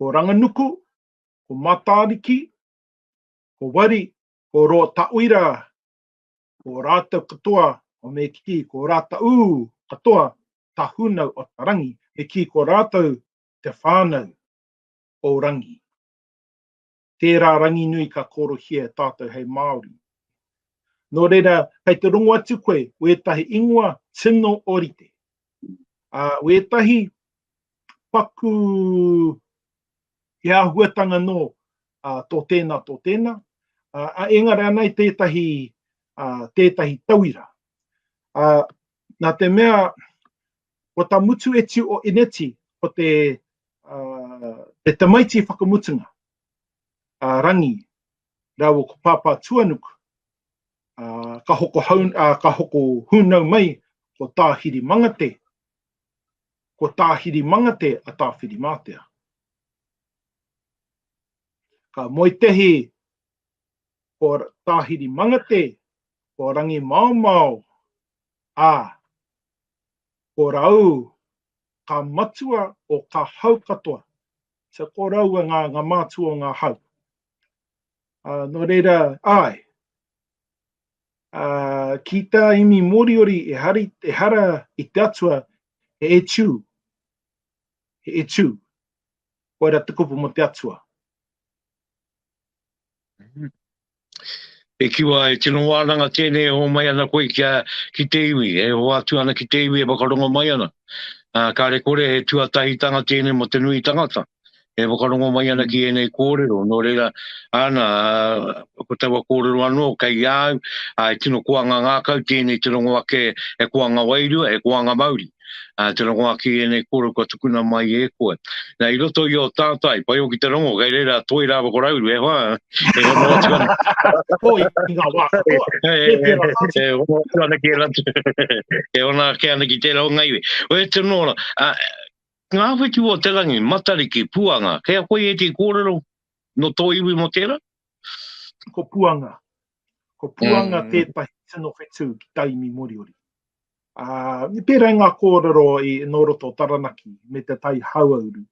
ko Ranganuku, ko Matariki, ko Wari, ko Rotauira, ko rātou katoa, o me kī, ko rātaū katoa tā Hunau o ta Rangi, me kī ko rātou te whānau o Rangi. Tērā Ranginui ka kōrohia e tātou hei Māori. Nō reira, kei te rongo atu koe wētahi ingoa tino orite, ā, wētahi paku he āhuatanga nō tō tēnā, tō tēnā, ā, engari anā i tētahi, tētahi tauira. Nā te mea, Ko ta mutu etu o Ineti ko te te tamaiti whakamutunga, a Rangi raua ko Papa Tuanuku, a ka hoko hau a ka hoko hunau mai ko Tahiri Mangate, ko Tahiri Mangate a Tawhirimatea. Ka moe tehi ko Tahiri Mangate, ko Rangi Maomao, a Korau ka matua o ka hau katoa. So korau e nga nga matua o nga hau. A no reira ae. A ki ta imi Moriori e hari e hara i te atua he e tu. He e tu. Koira te kupu mo te atua. E kiwa, e tino wānanga tēnei e hoa mai ana koe kia, ki te iwi, e hoa atu ana ki te iwi e whakarongo mai ana. Uh, kāre kore he tuatahitanga tēnei mo te nui tangata, e whakarongo mai ana ki ēnei kōrero, nō reira, ana, uh, ko taua kōrero anō, kei au, uh, e tino koanga ngākau tēnei te rongo ake, he koanga wairua, he koanga mauri. Uh, te rongo aki i enei koro kua tukuna mai e koe. Na, i roto i o tātai, pai o ki te rongo, kei reira toi rāwa ko rauru, e hoa, e hoa noa tika. Toi i ngā wā katoa, e pēra tātai. E hoa noa ana ki e ratu, e hoa noa ki ana ki tērā o ngaiwe. O e te nōra, uh, ngā whitu o te rangi, matariki, puanga, kei a koe e te kōrero no tō iwi mo tērā? Ko puanga. Ko Puanga mm. tētahi tino whetū ki Taimi Moriori. Uh, pērā ngā kōrero i nō roto Taranaki me te tai hauauru.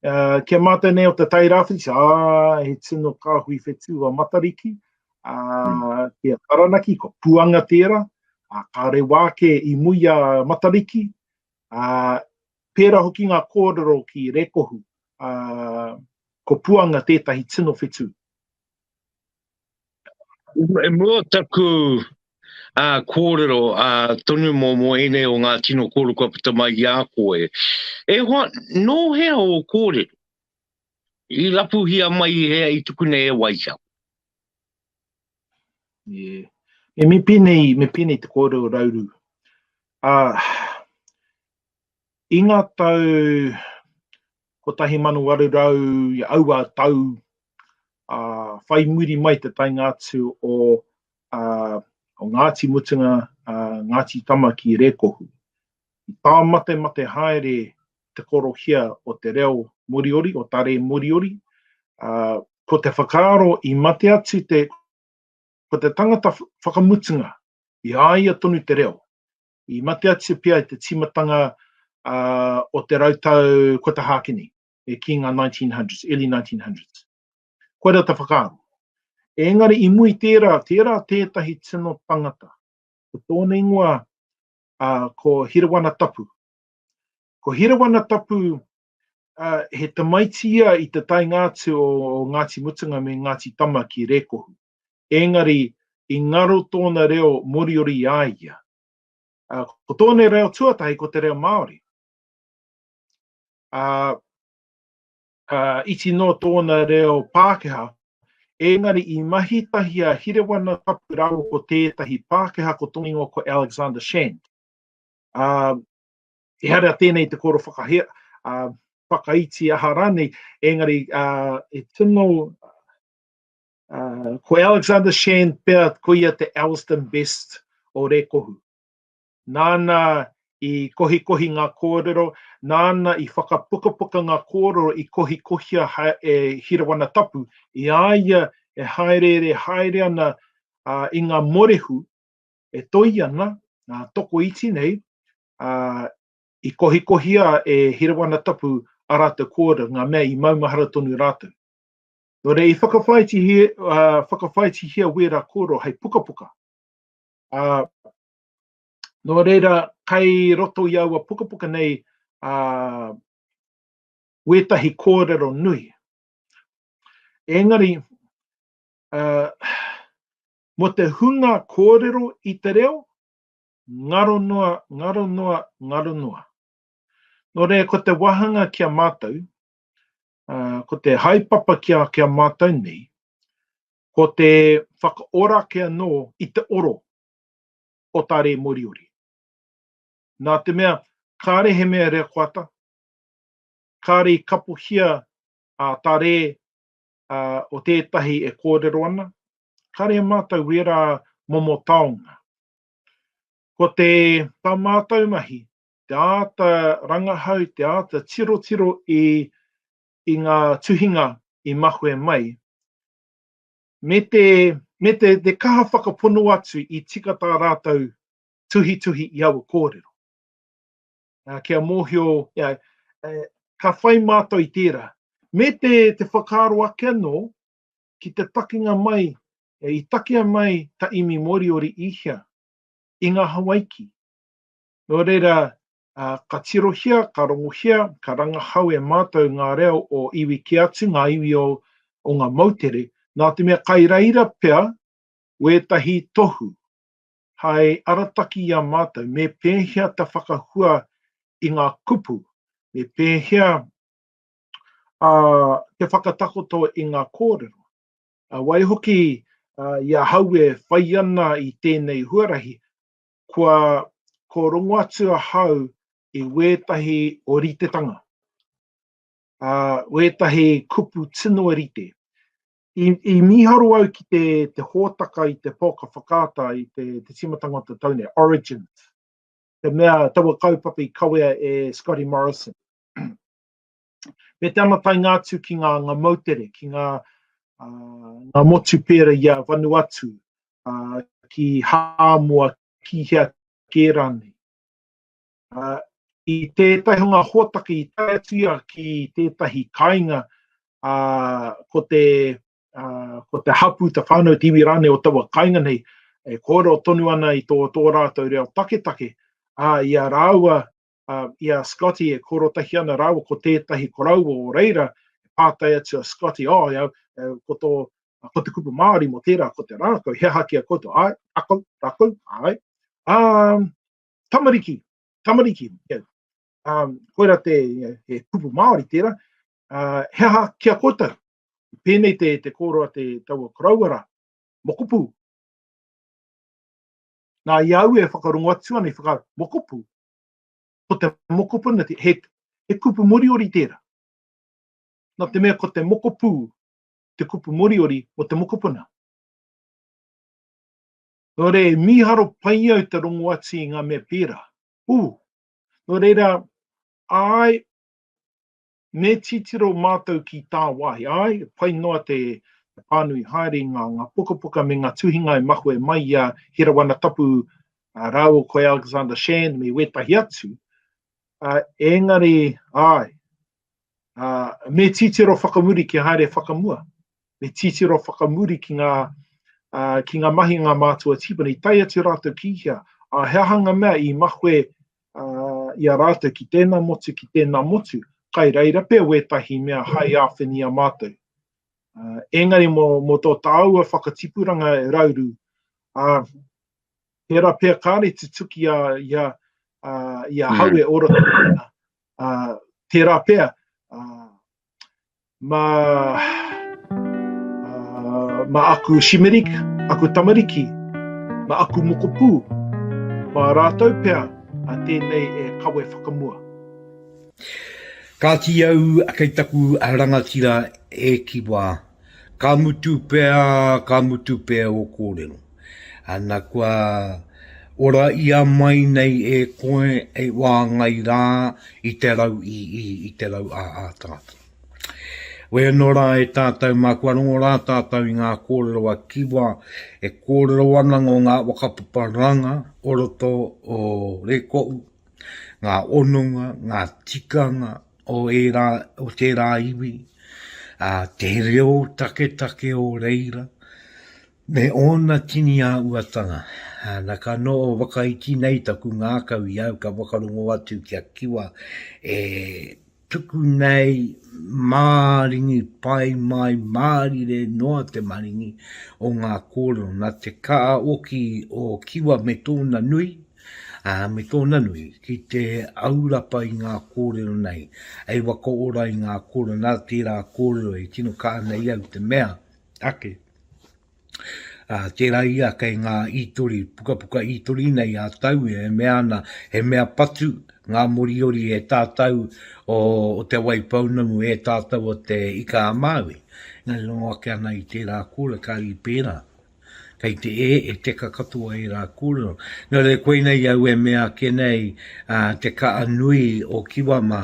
Uh, kia mātou nei o te tai rāwhiti, ah, he tino kāhui whetū a Matariki, uh, mm. ki a Taranaki, ko Puanga tēra, uh, ka rewa ake i mui a Matariki, uh, pērā hoki ngā kōrero ki Rekohu, uh, ko Puanga tētahi tino whetū. I mua o taku kōrero tonu mō ēnei o ngā tino kōrero kua puta mai i a koe, e hoa, nō hea ō kōrero? I rapuhia mai i hea i tuku nei e Waikawa? Yeah. Me pēnei, me pēnei te kōrero o Rauru. I ngā tau 1800 i aua tau, ā, whai muri mai te taenga atu o, ā, o Ngāti Mutunga, ā, Ngāti Tama ki Rēkohu. I tāmatemate haere te korohia o te reo Moriori, o Tare Moriori, ā, ko te whakaaro i mate atu te, ko te tangata whakamutunga, i a ia tonu te reo. i mate atu pea i te tīmatanga o te rautau kua tahākini, e ki ngā 1900s, early 1900s. Koia rā te whakaaro. Engari i mua i tērā, tērā tētahi tino tangata, ko tōna ingoa ko Hirawana Tapu. Ko Hirawana Tapu He tamaiti ia i te taenga atu o Ngāti Mutunga me Ngāti Tama ki Rēkohu. Ēngari, i ngaro tōna reo Moriori i a ia. Ko tōna reo tuatahi ko te reo Māori. Iti noa tōna reo Pākehā, ēngari i mahi tahi a Hirewana Tapu rāua ko tētahi Pākehā ko Tongingo ko Alexander Shand. Ehara tēnei te koro whakahea, uh, whakaiti aha rānei, engari uh, e tino Uh, ko Alexander Shan pea, ko ia te Elsdon Best o Rekohu. Nāna i kohikohi ngā kōrero, nāna i whakapukapuka ngā kōrero i kohikohia ha, e Hirawana Tapu, i a ia e haereere haere ana uh, i ngā morehu, e toi ana, uh, toko iti nei, ā, i kohikohia e Hirawana Tapu ā rātou kōrero, ngā mea i maumahara tonu rātou. Nō reira, i whakawhāitihia, ā, whakawhāitihia wērā kōrero hei pukapuka. Ā, nō reira, kei roto i aua pukapuka nei, ā, wētahi kōrero nui. Engari, ā, mō te hunga kōrero i te reo, ngaro noa, ngaro noa, ngaro noa. Nō reira, ko te wāhanga ki a mātou, ko te haepapa ki a, ki a mātou nei, ko te whakaora ake anō i te oro o tā rē Moriori. Nā te mea, kāre he mea reakoata, kāre i kapohia a tā rē a, o tētahi e kōrero ana, kāre e mātou wērā momo taonga. Ko te tā mātou mahi, te āta rangahau, te āta tirotiro i i ngā tuhinga i mahue mai, me te me te te kaha whakapono atu i tika tā rātou tuhituhi i aua kōrero. Ā, kia mōhio, you know, e, ka whai mātou i tērā. Me te te whakaaro ake anō, ki te takinga mai i takea mai ta imi Moriori i hea? I nga Hawaiki. No reira ka tirohia, ka rongohia, ka rangahau e matou nga reo o iwi ke atu, nga iwi o nga moutere, na te mea kai reira pea wetahi tohu hai arataki i a matou me pehea ta whakahua i nga kupu, me pehea ā, te whakatakoto i ngā kōrero. Waihoki, i ahau e whai ana i tēnei huarahi, kua ko rongo atu ahau i wētahi oritetanga, ā, wētahi kupu tino rite. I, i mīharo au ki te, te hōtaka i te pōka whakaata i te, te tīmatanga o te tau nei, Origins, te mea taua kaupapa i kawea e Scotty Morrison. Me te anatainga atu ki ngā anga moutere, ki ngā ngā motu pēra i a Vanuatu, ki Hāmoa, ki hea kē rānei. I tētahi o ngā hōtaka i tae atu ia ki tētahi kāinga, ko te ko te hapū, te whānau, te iwi rānei o taua kāinga nei e kōrero tonu ana i tō rātou reo taketake, ā, i a rāua uh, i a Scotty e korotahi ana rāua ko tētahi koroua o reira, e pātai atu a Scotty, oh, iau, e, ko tō, ko te kupu Māori mo tērā, ko te rākau, he aha ki a koutou, ai, rākau, rākau, ai, um, tamariki, tamariki, yeah. um, koira te, yeah, he kupu Māori tērā, uh, he aha ki a koutou, pēnei te, te kōroa te taua koroua rā, mokupu, Nā, i au e whakarongo atu ana i whaka mokopu, Ko te mokopuna, he, he kupu moriori tērā. Nā te mea ko te mokopū te kupu moriori o te mokopuna. Nō reira, e mīharo pai au te rongo atu i ngā mea pērā. Ū, nō reira, āe, Me titiro mātou ki tāwāhi, āe, pai noa te pānui haere i ngā ngā pukapuka me ngā tuhinga e mahue mai i a Hira Wana Tapu rāua ko Alexander Shand me wētahi atu, ā, engari, āe, ā, me titiro whakamuri kia haere whakamua, me titiro whakamuri ki ngā, ā, ki ngā mahinga mātua tīpuna, i tae atu rātou ki hea, ā, he aha ngā mea i mahue ā, i a rātou ki tēnā motu, ki tēnā motu, kai reira pea wētahi mea hai āwhina i a mātou. Ā, engari mō, mō tō tāua whakatipuranga e rauru, ā, tērā pea kāre tutuki a, i a, ā, i a hau e ora tō ringa, ā, tērā pea, ā, mā, mā aku shimerik, aku tamariki, mā aku mokopū, mā rātou pea a tēnei e kawe whakamua. Kāti au kei taku rangatira e kiwa Ka mutu pea, ka mutu pea o kōrero. Ana kua ora ia mai nei e koe e wāngai rā i te rau i i, i te rau a a tātou. Wē nō rā e tātou mā kua rongo rā tātou i ngā kōrero a Kiwa e kōrero ana ngō ngā whakapapa ranga o roto o Rekohu, ngā ononga, ngā tikanga, o ērā, o tērā iwi, ā, te reo taketake o reira, me ōna tini āhuatanga. Ana ka noho whakaiti nei taku ngākau i au ka whakarongo atu kia kiwa e tuku nei māringi pai mai, mārire noa te maringi o ngā kōrero. Nā te kāoki o Kiwa me tōna nui, ā, me tōna nui, ki te aurapa i ngā kōrero nei, hei wakaora i ngā kōrero, nā tērā kōrero e tino kaha nei au te mea ake, ā, tērā ia kei ngā ītori, pukapuka ītori nei a tau e mea ana, he mea patu ngā Moriori e tātau o, o Te Waipounamu e tātau o Te Ika-a-Māui. Engari rongo ake ana i tērā kōrero, kāri pērā, Kei te e, e teka katoa ērā kōrero. Nō reira, koinei au e mea ake nei, ā, te kaha nui o Kiwa mā,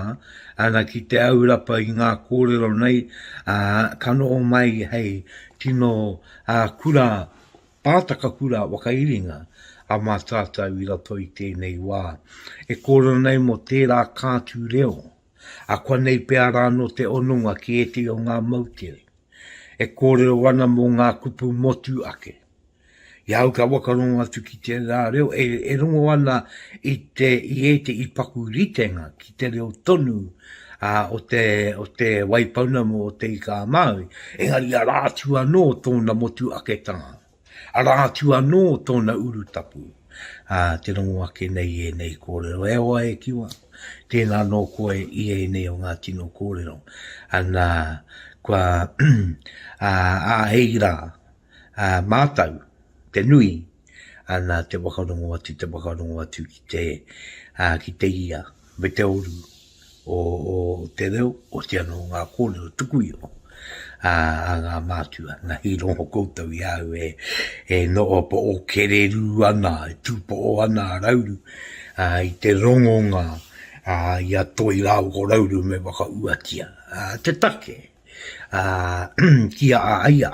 ana ki te aurapa i ngā kōrero nei, ā, ka noho mai hei tino ā, kura, pātaka kura whakairinga a mātātou i roto i tēnei wā. E kōrero nei mō tērā kātū reo. Akuanei pea rā nō te hononga ki ētehi o ngā moutere e kōrero ana mō ngā kupu motu ake. I a au ka whakarongo atu ki tērā reo e, e rongo ana i, te, i ētehi paku ritenga ki te reo tonu a, o, te, o te Waipounamu o Te Ika-a-Māui, engari arā atu anō tōna motu aketanga. Arā atu anō tōna urutapu, ā, te rongo ake nei i ēnei kōrero, E hoa e Kiwa, tēnā nō koe i ēnei o ngā tino kōrero, nā, kua āhei rā mātou te nui, nā, te whakarongo atu, te whakarongo atu ki te ia. me te uru o, o te reo, o te anō ngā kōrero tuku iho a, a ngā mātua. Nā hi rongo koutou i au e, e no o po o kererū ana, e tūpo o ana a Rauru a, i te rongonga a, i a Toi rāua ko Rauru me whakauatia a, te take a, ki a a ia.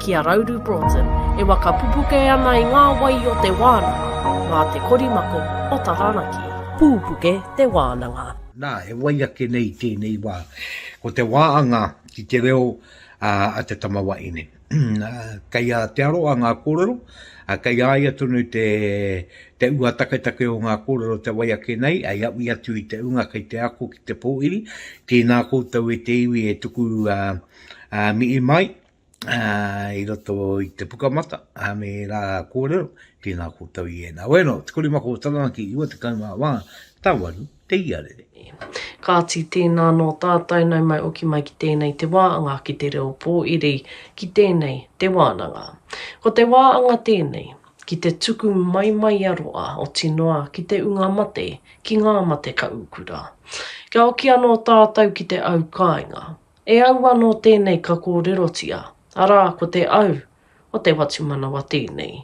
ki a Rauru Broughton, e waka pupuke ana i ngā wai o te wānanga, mā te korimako o Taranaki. Pupuke te wānanga. Nā, e wai ake nei tēnei wā, ko te wā anga ki te reo a te tama wahine. Kei a Te Aroha ngā kōrero, kei a ia tonu te, te ua taketake o ngā kōrero te wai ake nei, hei aui atu i te unga kei te ako ki te pōhiri, tēnā koutou e te iwi e tuku mihi mai. i roto i te pukamata, a me rā kōrero, tēnā koutou i ēnā. Wēno, te korimako o Taranaki, iwa te kaumā wā, tāwaru, te iarere. Kāti, tēnā nō tātou, nau mai oki mai ki tēnei te wā anga ki te reo pōiri, ki tēnei te wānanga. Ko te wā anga tēnei, ki te tuku mai mai a roa, oti noa ki te unga mate, ki ngā mate ka ukura. Kia oki anō tātou ki te au kāinga, E au anō tēnei ka kōrerotia, arā, ko te au o te whatumanawa tēnei.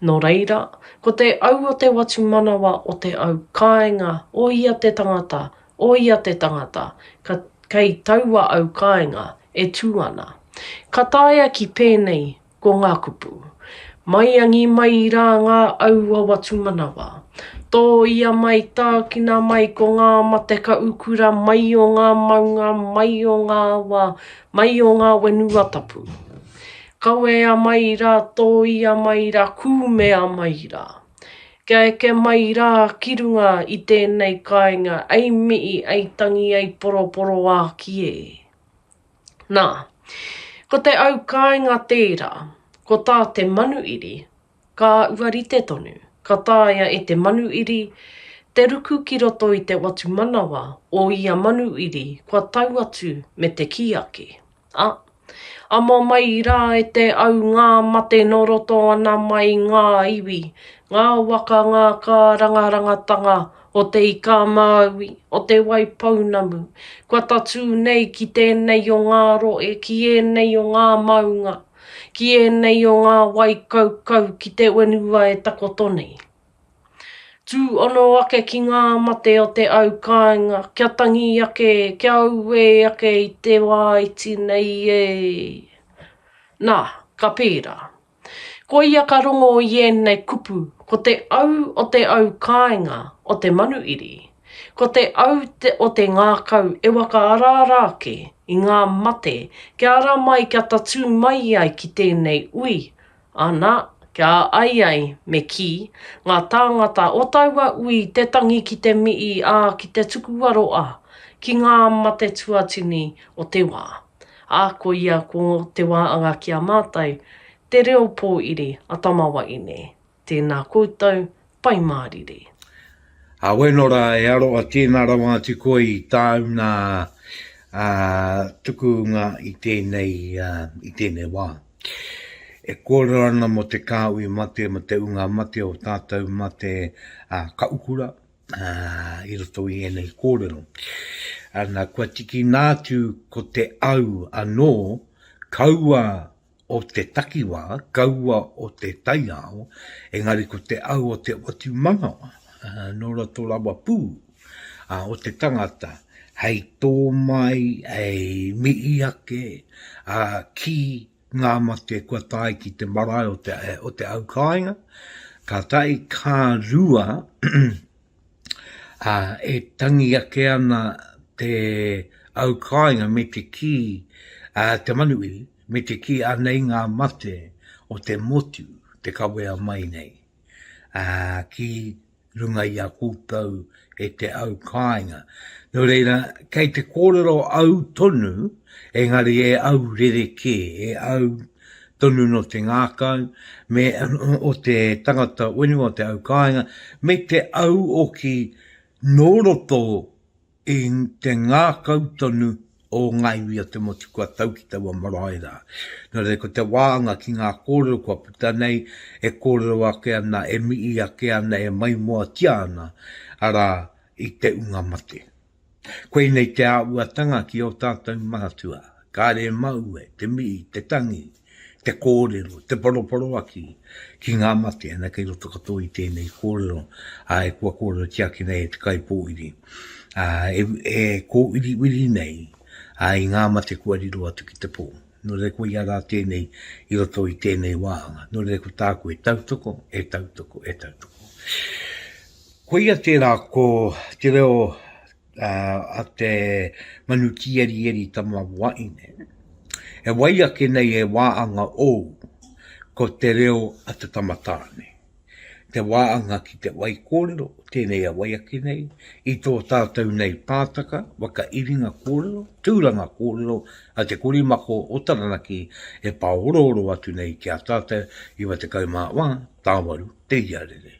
Nō reira, ko te au o te whatumanawa o te au kāinga o ia te tangata, o ia te tangata, ka, kei taua au kāinga e tū ana. Ka taea ki pēnei Ko ngā kupu. Maiangi mai i rā ngā aua watu manawa. Tō ia mai, tākina mai ko ngā mate ka ukura mai o ngā maunga, mai o ngā awa, mai o ngā whenua tapu. Kawea mai i rā, tō ia mai i rā, kūmea mai i rā. Kia eke mai i rā ki runga i tēnei kāinga, ei mihi, ei tangi, ei poroporoāki e. Nā, ko te au kāinga tērā, ko tā te manuiri, ka ua rite tonu, ka taea e te manuiri te ruku ki roto i te whatumanawa o ia manuiri kua tau atu me te kī ake, a, amo mai rā e te au ngā mate nō roto ana mai ngā iwi, ngā waka ngā kārangarangatanga o Te Ika-a-Māui, o Te Waipounamu, kua tatū nei ki tēnei o ngā rohe, ki ēnei o ngā maunga, ki ēnei o ngā wai kaukau ki te whenua e takoto nei. Tū ono ake ki ngā mate o te au kāinga, kia tangi ake, kia auē ake i te wā iti nei e! Nā, ka pērā. Ko ia ka rongo i ēnei kupu, ko te au o te au kāinga o te manuiri, ko te au o te ngākau e whakaaraara ake i ngā mate kia ara mai kia tatū mai ai ki tēnei ui, ana, kia ai ai, me kī, ngā tāngata o taua ui te tangi ki te mihi, ā, ki te tukuwaro, ā, ki ngā mate tuatini o te wā. ā, ko ia ko Te Wā Anga ki a mātou, te reo pōiri a Tama Waine. Tēnā koutou, Pai Mārire. Awe no ra e aroa tena rawa atu koe i tau na tukunga i tenei i tenei wa. E kōrero ana mo te Kāhui mate mo te unga mate o tātou mate ka ukura. ā, i roto i ēnei kōrero, nā, kua tikina atu ko te au anō, kaua o te takiwā, kaua o te taiao, engari ko te au o te whatumanawa, nō roto rawa pū, ā, o te tangata, hei tō mai, hei mihi ake, ā, ki ngā mate kua tae ki te marae o te, o te au kāinga, ka tae kā rua a, e tangi ake ana te au kāinga me te kī a, te manuiri, me te kī anei ngā mate o te motu te kawea mai nei a, ki runga i a koutou e te au kāinga. Nō reira, kei te kōrero au tonu, engari e au rere kē, e au tonu no te ngākau, me o te tangata whenua o te au kāinga, me te au o ki nō roto I te ngākau tonu o Ngāi Ui a Te Motu kua tau ki taua marae rā. Nō reira, ko te wāanga ki ngā kōrero kua puta nei, e kōrero ake ana, e mihi ake ana, e maimoatia ana, arā, i te unga mate. Koinei te āhuatanga ki ō tātou Maratua, kāre e māue, te mihi, te tangi, te kōrero, te poroporoaki ki ngā mate, ana kei roto katoa i tēnei kōrero, ā, e kua kōrerotia ake nei e te kaipōiri, ā, e, e kōwiriwiri nei, ā, i ngā mate kua riro atu ki te pō. Nō reira koia rā tēnei i roto i tēnei wā, nō reira ko tāku e tautoko, e tautoko, e tautoko. Koia tērā ko te reo a te manu tīerieri tama waine. E wai ake nei e wāanga ou ko te reo a te tama tāne. Te wāanga ki te wai kōrero, tēnei e wai ake nei, i tō tātou nei pātaka, whakairinga kōrero, tūranga kōrero a te korimako o Taranaki e pāorooro atu nei ki a tātou, 94, tāwaru te iarere.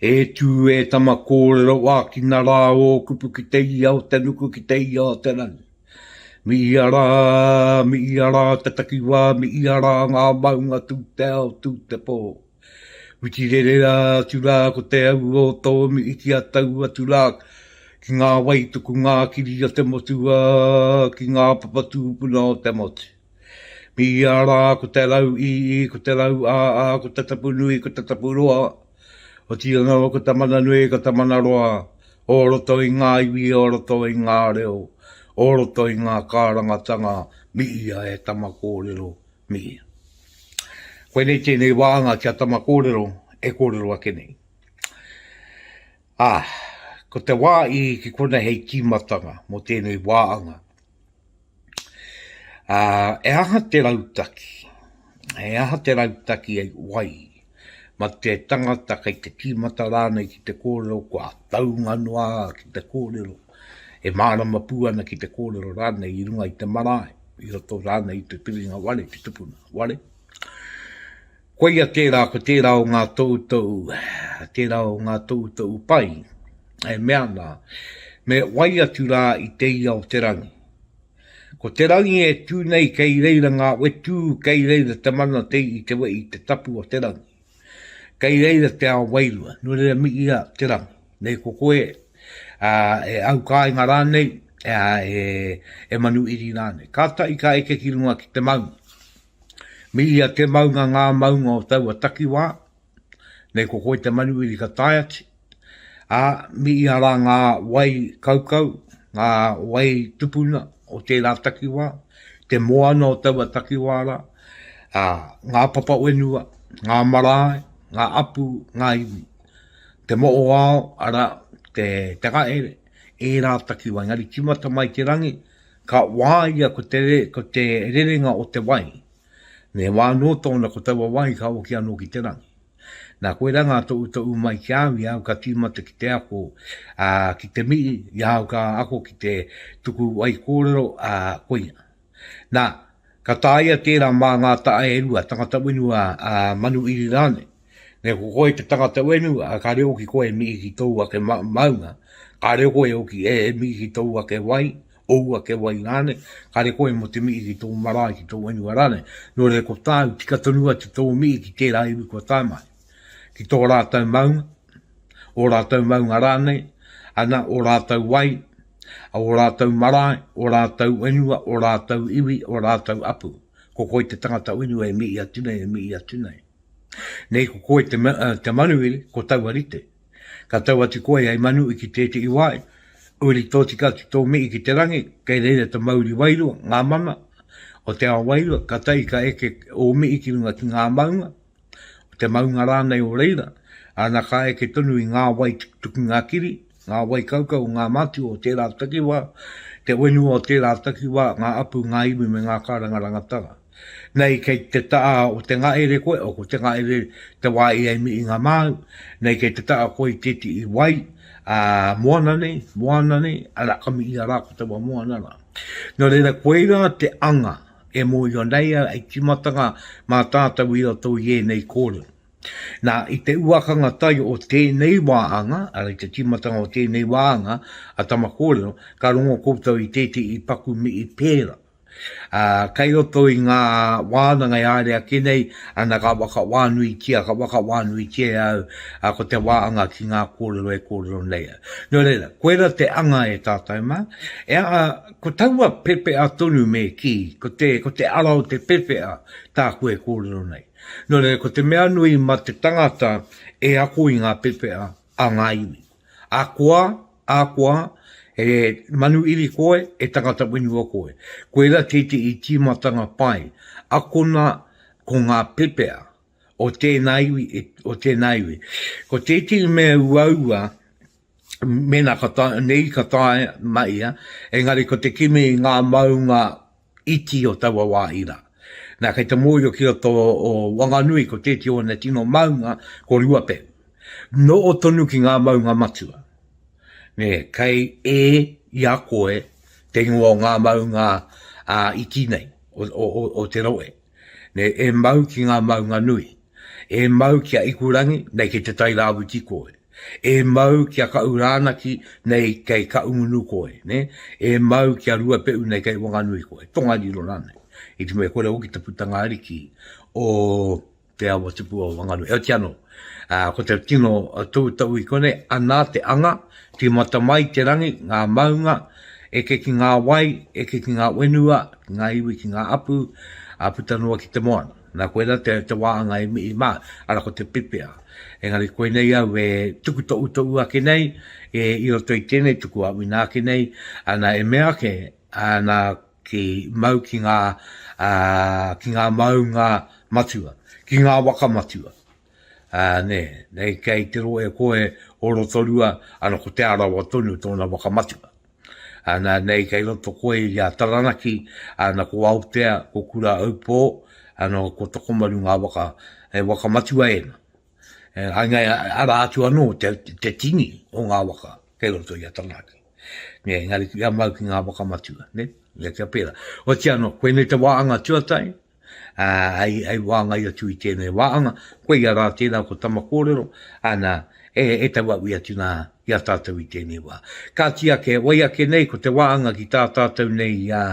E tū e tama kōrero ākina rā ō kupu ki te ia o te nuku ki te ia o te rangi. Mi ia rā, mi ia rā te takiwā, mi ia rā ngā maunga tū te ao, tū te pō. Whiti rere rā atu rā ko te au o tō mi iki a tau atu rā ki ngā waituku ngā kiri o te motu ā, ki ngā papa tūpuna o te motu. Mīia rā ko te rau ī ī, ko te rau ā ā, ko te tapu nui, ko te tapu roa, otiia noa ko te mana nui, ko te mana roa, o roto i ngā iwi, o roto i ngā reo, o roto i ngā kārangatanga, mīia e tama kōrero, mīia. Koinei tēnei wānga kia tama kōrero e kōrero ake nei. Ā, ko te wā ī ki konei hei tīmatanga mō tēnei wāanga. Ā, e aha te rautaki? He aha te rautaki hei wai? Ma te tangata kei te tīmata rānei ki te kōrero kua taunga noa ki te kōrero, e mārama pū ana ki te kōrero rānei i runga i te marae, i roto rānei i te piringa ware, te tupuna ware. Koia tērā ko tērā o ngā toutou, tērā o ngā toutou pai, e mea ana, me wai atu rā i te ia o te rangi. Ko te rangi e tū nei kei reira ngā wetū, kei reira te mana te i te wehi te tapu o te rangi. Kei reira te ao wairua, nō reira mi ia te rangi. Nei ko koe, ā, e aukāinga rānei, ā, e, e manu iri rānei. Kātahi ka eke ki runga ki te maunga. Me ia te maunga ngā maunga o taua takiwā, nei ko koe te manuwiri ka tae atu, ā, me ia rā ngā wai kaukau, ngā wai tupuna o tērā takiwā, te moana o taua takiwā rā, ā, ngā papa whenua, ngā marae, ngā apu, ngā iwi, te moʻoao, arā, te takahere, ērā takiwā, engari tīmata mai te rangi, Ka wāia ko te ko te rerenga o te wai. Me wā anō tōna ko taua wai ka oki anō ki te rangi. Nā koirā ngā toʻu toʻu mai ki au i au ka tīmata ki te ako, ā, ki te mihi i au ka ako ki te tuku wai kōrero, ā, koia. Nā, ka tāia tērā mā ngā taʻa e rua, tangata whenua, ā, manu iri rānei. Nei ko koe te tangata whenua, ka reo ki koe e miki ki tōu ake ma maunga, ka reo koe hoki e miki ki tōu ake wai, ōu ake wai rānei, ka reo koe mō te miki ki tōu marae, ki tōu whenua rānei. Nō reira ko tāu, tika tonu atu tōu miki ki tērā iwi kua tae mai, ki tō rātou maunga, ō rātou maunga rānei, ana, ō rātou wai, ō rātou marae, ō rātou whenua, ō rātou iwi, ō rātou apu. Ko koe te tangata whenua e mii atu nei, e mii atu nei. Nei ko koe te, te manuhiri, ko taua rite. Ka tau atu koe hei manu i ki tētehi wāhi, uri tōtika atu tō mihi ki te rangi, kei reira te mauri wairua, ngā mana, o te ao wairua, ka tai ka eke ō mihi ki runga ki ngā maunga, o te maunga rānei o reira, ana ka eke tonu i ngā wai tukutuku ngā kiri, ngā wai kaukau o ngā mātua o tērā takiwā, te whenua o tērā takiwā, ngā apu, ngā iwi me ngā kārangaranga tara. Nei kei te taa o te ngaere koe, o te ngaere te wa i e mi i nga maau, nei kei te taa koe i teti i wai, a, moana nei, moana nei, ara ka mi i a ra ko te wa moana ra. No reira koe ra te anga e moio nei a i timatanga ma tatou i roto i enei korero. Na, i te uakanga tai o tenei wa anga, ara i te timatanga o tenei wa anga, a Tama Korero, ka rongo koutou i teti i paku mi i pera. Ā, kei roto i ngā wānanga e haere ake nei, ana ka whakawānuitia, ka whakawānuitia e au, ā, ko te wā anga ki ngā kōrero e kōrero nei au. Nō reira, koirā te anga e tātou mā. E aha, ko taua pepeha tonu me kī, ko te, ko te ara o te pepeha tāku e kōrero nei. Nō reira, ko te mea nui mā te tangata e ako i ngā pepeha, A ngā iwi. A koa, a koa, e manu iri koe, e tangata whenua koe. Koira kei te i tīmatanga pai. Akona ko ngā pepea o tēnā iwi, o tēnā iwi. Ko tētehi mea uaua, mēnā ka tae, nei ka tae ma ia, engari ko te kimi i ngā maunga iti o taua wāhi rā. Nā, kei te mōhio ki roto o Wanganui ko tēti o ana tino maunga ko Ruapehu. Nō tonu ki ngā maunga matua. Nē, kei e i a koe te ingoa o ngā maunga iti nei, o, o, o, o te rohe. Nei e mau ki ngā maunga nui, e mau ki a Ikurangi, nei kei te Tairāwhiti koe, e mau ki a Kaʻurānaki, nei kei Kaʻungunu koe, ne? e mau ki a Ruapeʻu, nei kei Wanganui koe, Tongariro rānei. I te mea kore hoki te putanga ariki o te awa tupua o Wanganui, heoti anō. Ā, ko te tino toutou i konei, ana te anga, tīmata mai te rangi, ngā maunga, eke ki ngā wai, eke ki ngā whenua, ki ngā iwi, ki ngā hapū, ā, puta noa ki te moana. Nā, koirā te, te wā anga i mihi mā, arā, ko te pepea. Engari koinei au e tuku toʻutoʻu ake nei, e, i roto i tēnei tuku aʻuina ake nei, ana, e mea ake, ana, Ki mau ki ngā, ā, ki ngā maunga matua, ki ngā waka matua. Ā, nē, nei kei te rohe koe o Rotorua, ana ko Te Arawa tonu tōna waka matua. Ana, nei kei roto koe i a Taranaki, ana ko Aotea, ko Kura Aupō, ana ko Tokomaru ngā waka, he waka matua ēna. Ā, engari arā atu anō te, te tini o ngā waka kei roto i a Taranaki. Nē, engari kia mau ki ngā whakamatua, nē, nē kia pērā. O tia anō, koe nei te wāanga tuatahi, ā, hei, hei wāngai atu i tēnei wāanga, koia rā tērā ko tama kōrero, ana, e, e tau aui atu nā, i a tātou i tēnei wā. Kāti ake, wai ake nei ko te wāanga ki tā tātou nei, ā,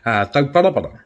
ā, tauparapara.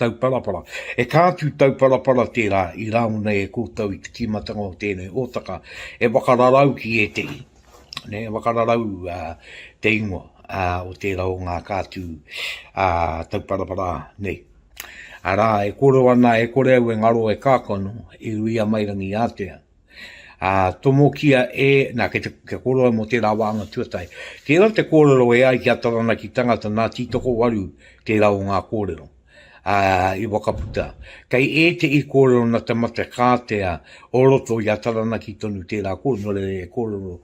tauparapara. E kā atu tauparapara tērā i rāo nei e koutou i te tīmatanga o tēnei hōtaka e whakararau ki ētehi, e whakararau te ingoa o tērā o ngā kā atu tauparapara nei. Arā, e kōrero ana, e kore au e ngaro e kākano, i Ruiamairangi Ātea. Ā, tomokia e, nā, kei te, kia kōrero mō tērā wāhanga tuatahi. Tērā te kōrero e ai ki a Taranaki tangata nā Tītokowaru tērā o ngā kōrero ā, i wakaputa. Kei ētehi kōrero nā te mate kātea o roto i a Taranaki tonu tērā kōrero, nō reira e kōrero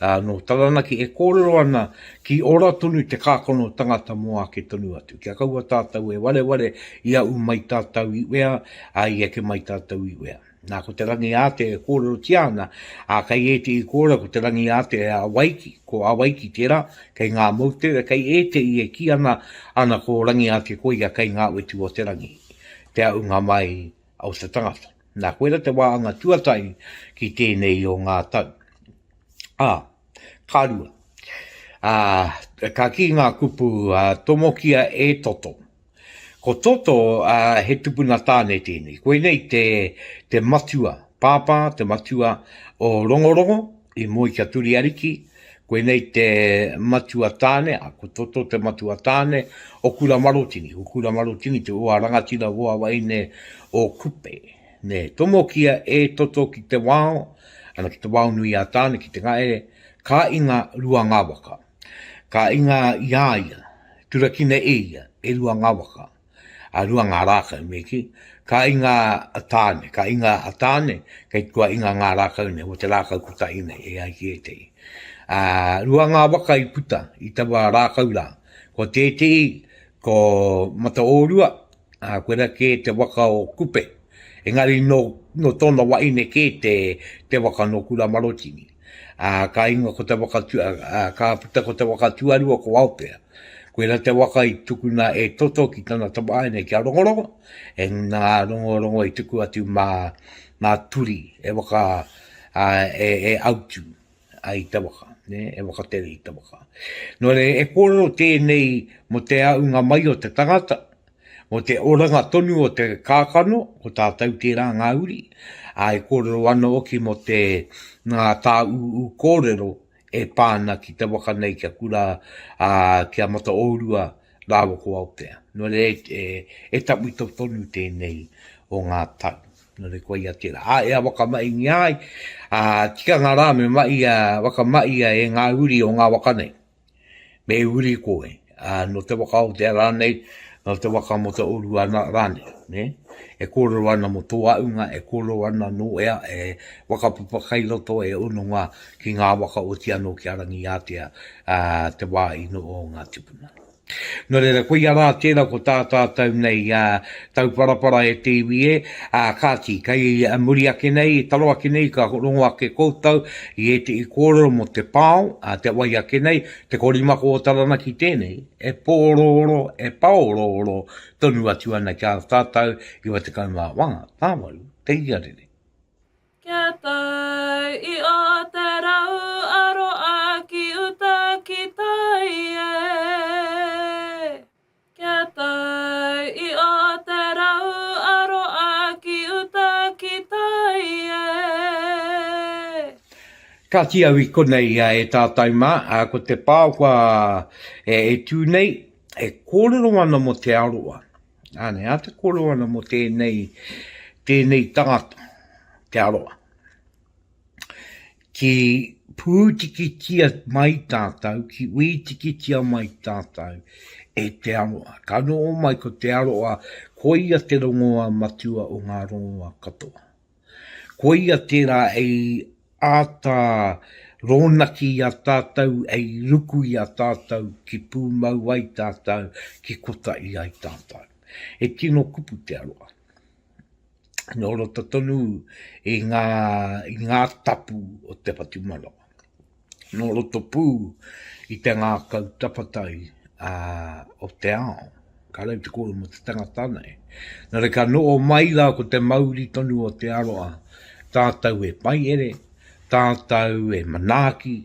ā, nō Taranaki e kōrero ana ki ora tonu te kākano tangata mō ake tonu atu. Kia kaua tātou e wareware i aʻu mai tātou i wea, ā, i eke mai tātou i wea. Nā, ko te rangi ātea e kōrerotia ana, ā, kei ētehi kōrero ko te rangi ātea e Awaiki, ko Awaiki tērā, kei ngā moutere, kei ētehi e kī ana, ana ko Rangiātea koia kei ngā utu o te rangi, te aʻunga mai o te tangata. Nā, koira te wāhanga tuatahi ki tēnei o ngā tau. Ā, ka rua. Ā, ka kī ngā kupu, ā, tomokia e Toto. Ko Toto, ā, he tupuna tāne tēnei. Koinei te, te matua, Pāpā, te matua o Rongorongo, i moe ki a Turiariki. Koinei te matua tāne, ā, ko Toto te matua tāne o Kura Marotini. Ko Kura Marotini te hoa rangatira, hoa waeine o Kupe. Nē, tomokia e Toto ki te wao, ana, ki te wao nui a Tāne, ki Te Ngaere, ka inga rua ngā waka. Ka inga i a ia, turakina e ia, e rua ngā waka, a rua ngā rākau me ki, ka inga a Tāne, ka inga a Tāne, kei kua inga ngā rākau nei, o te rākau kotahi nei, e ai ki ētehi. A, rua ngā waka i puta i taua rākau rā, ko tētehi, ko Mataōrua, a, koira kē te waka o Kupe, engari nō, nō tōna wahine kē te, te waka nō Kuramarotini. Ā, ka ingoa ko te waka tu, ā, ka puta ko te waka tuarua ko Aotea. Koirā te waka i tukuna e Toto ki tana tamāhine ki a Rongorongo, e ngana a Rongorongo i tuku atu mā, mā Turi e waka, ā, e, e autu ai i te waka, nē, e wakatere i te waka. Nō reira, e kōrero tēnei mō te āhunga mai o te tangata, Mō te oranga tonu o te kākano, ko tātou tērā ngā uri, ā, e kōrero ana hoki mō te ngā tāūū kōrero e pā ana ki te waka nei kia kura, ā, ki a Mataōrua rāua ko Aotea. Nō reira, e, e tawhito tonu tēnei o ngā tau. Nō reira, koia ia tērā. Ā, e a Wakamaingia ai, ā, tikanga rā me mahia, whakamahi ai e ngā uri o ngā waka nei. me uri koe, ā, nō te waka o Aotea rānei, nō te waka mō te oru ana rānei, nē. E kōrero ana mō tō āunga, e kōrero ana nō ea e whakapapa kai roto, e hononga ki ngā waka oti anō ki a Rangiātea, ā, te wā ino o ngā tūpuna. Nō reira, koia rā tērā ko tā tātou nei Tauparapara e te iwi e, ā, kāti, kei muri ake nei, taro ake nei, ka rongo ake koutou i ētehi kōrero mō te pao, ā, te wai ake nei, te korimako o Taranaki tēnei, e pōorooro, e pāorooro tonu atu ana ki a tātou 91 tāwaru te iarere. Kia tau i ō te rau aroa ki uta ki tai e. Kia tau i ō te rau aroa ki uta ki tai e. Kati au i konei e tātou mā, ko te pāoka e tū nei, e kōrero ana mō te aroa. Āne, ā te kōrero ana mō tēnei, tēnei tangata, te aroa. ki pūtikitia mai tātou, ki wītikitia mai tātou e te aroa. Ka noho mai ko te aroa, koia te rongoa matua o ngā rongoa katoa. Koia tērā ei āta rōnaki i a tātou, ei ruku i a tātou, ki pūmau ai tātou, ki kotahi ai tātou. He tino kupu te aroa. nō roto tonu i ngā, i ngā tapu o te whatumanawa. Nō roto pū i te ngākau tapatai a, o te ao. Ka rau te kōrero mō te tangata nei. Nō reira ka noho mai rā ko te mauri tonu o te aroha, tātou e paihere, tātou e manaaki,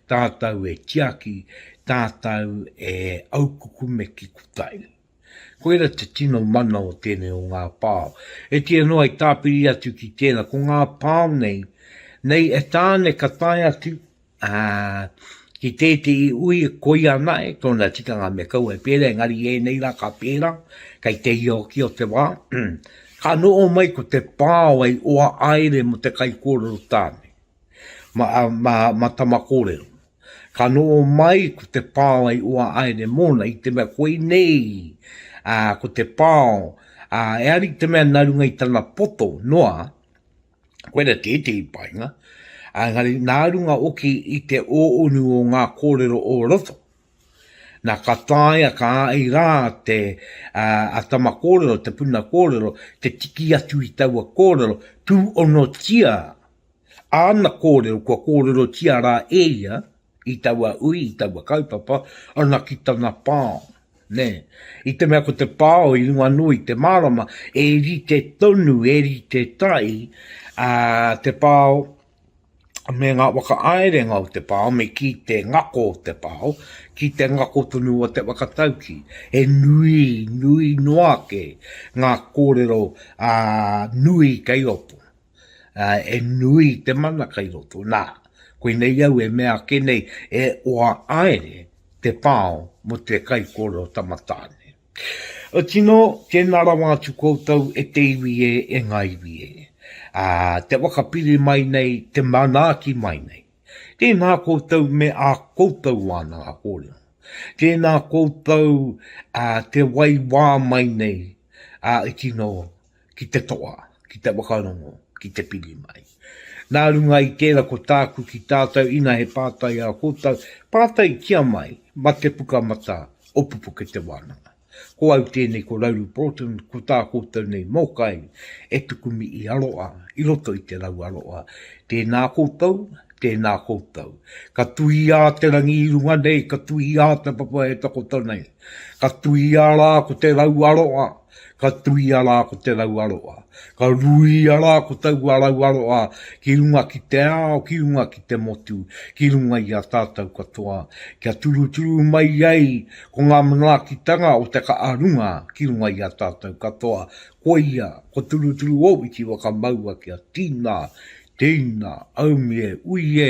tātou e tiaki, tātou e aukukume ki kutai. Koira te tino mana o tēnei o ngā pao. E tia noa i tāpiri atu ki tēnā, ko ngā pao nei, nei e tāne ka tae atu, ā, ki tētehi ui koia nae tōna tikanga me kaua e pērā, engari i ēnei rā ka pērā, kei te hia hoki o te wā, ka noho mai ko te pao hei oa aere mo te kaikōrero tāne, ma, ma, ma tama kōrero. Ka noho mai ko te pao i Uahaere mōna i te mea koinei ko te pao eari te mea nā runga i tana poto noa, koira tētehi painga, engari nā runga hoki i te ōonu o ngā kōrero o roto. Nā ka taea ka ai rā te a tama kōrero, te puna kōrero, te tiki atu i taua kōrero, pūonotia āna kōrero kua kōrerotia rā e ia i taua ui, i taua kaupapa, ana ki tana pāo. Nē, i te mea ko te pāo i runga noa i te mārama, e rite tonu, e rite tai ā, te pāo me ngā whakaaerenga o te pāo, me ki te ngako o te pāo, ki te ngako tonu o te whakatauki. He nui, nui noa ake ngā kōrero ā, nui kei roto. e nui te mana kai roto, nā, koinei au e mea ake nei, e oa aere te pao mo te kaikōrero tamatāne. Oti nō, tēnā rawa atu koutou e te iwi e, e ngā iwi e, ā, te whakapiri mai nei, te manaaki mai nei. Tēnā koutou me ā koutou wānanga kōrero. Tēnā koutou, ā, te wai wā mai nei, ā, oti nō, ki te toa, ki te whakarongo, ki te piri mai. Nā runga i tērā ko tāku ki tātou ina he pātai ā kōtou, pātaitia mai mā te puka matā o Pupuke Te Wānanga. Ko au tēnei ko Rauru Broughton, ko tā kōtou nei mōkai e tuku mihi aroha i roto i te rau aroha. Tēnā kōtou, tēnā kōtou. Ka tuia te rangi i runga nei, ka tuia te papa e takoto nei. Ka tuia rā ko te rau aroha. Ka tuia rā ko te rauaroa, ka ruia rā ko taua rauaroa ki runga ki te ao, ki runga ki te motu, ki runga i a tātou katoa, kia turuturu mai ai ko ngā manaakitanga o te ka'a runga ki runga i a tātou katoa, koia, ko Turuturu Owiti whakamaua kia tīna, tēina, aumie, uiē,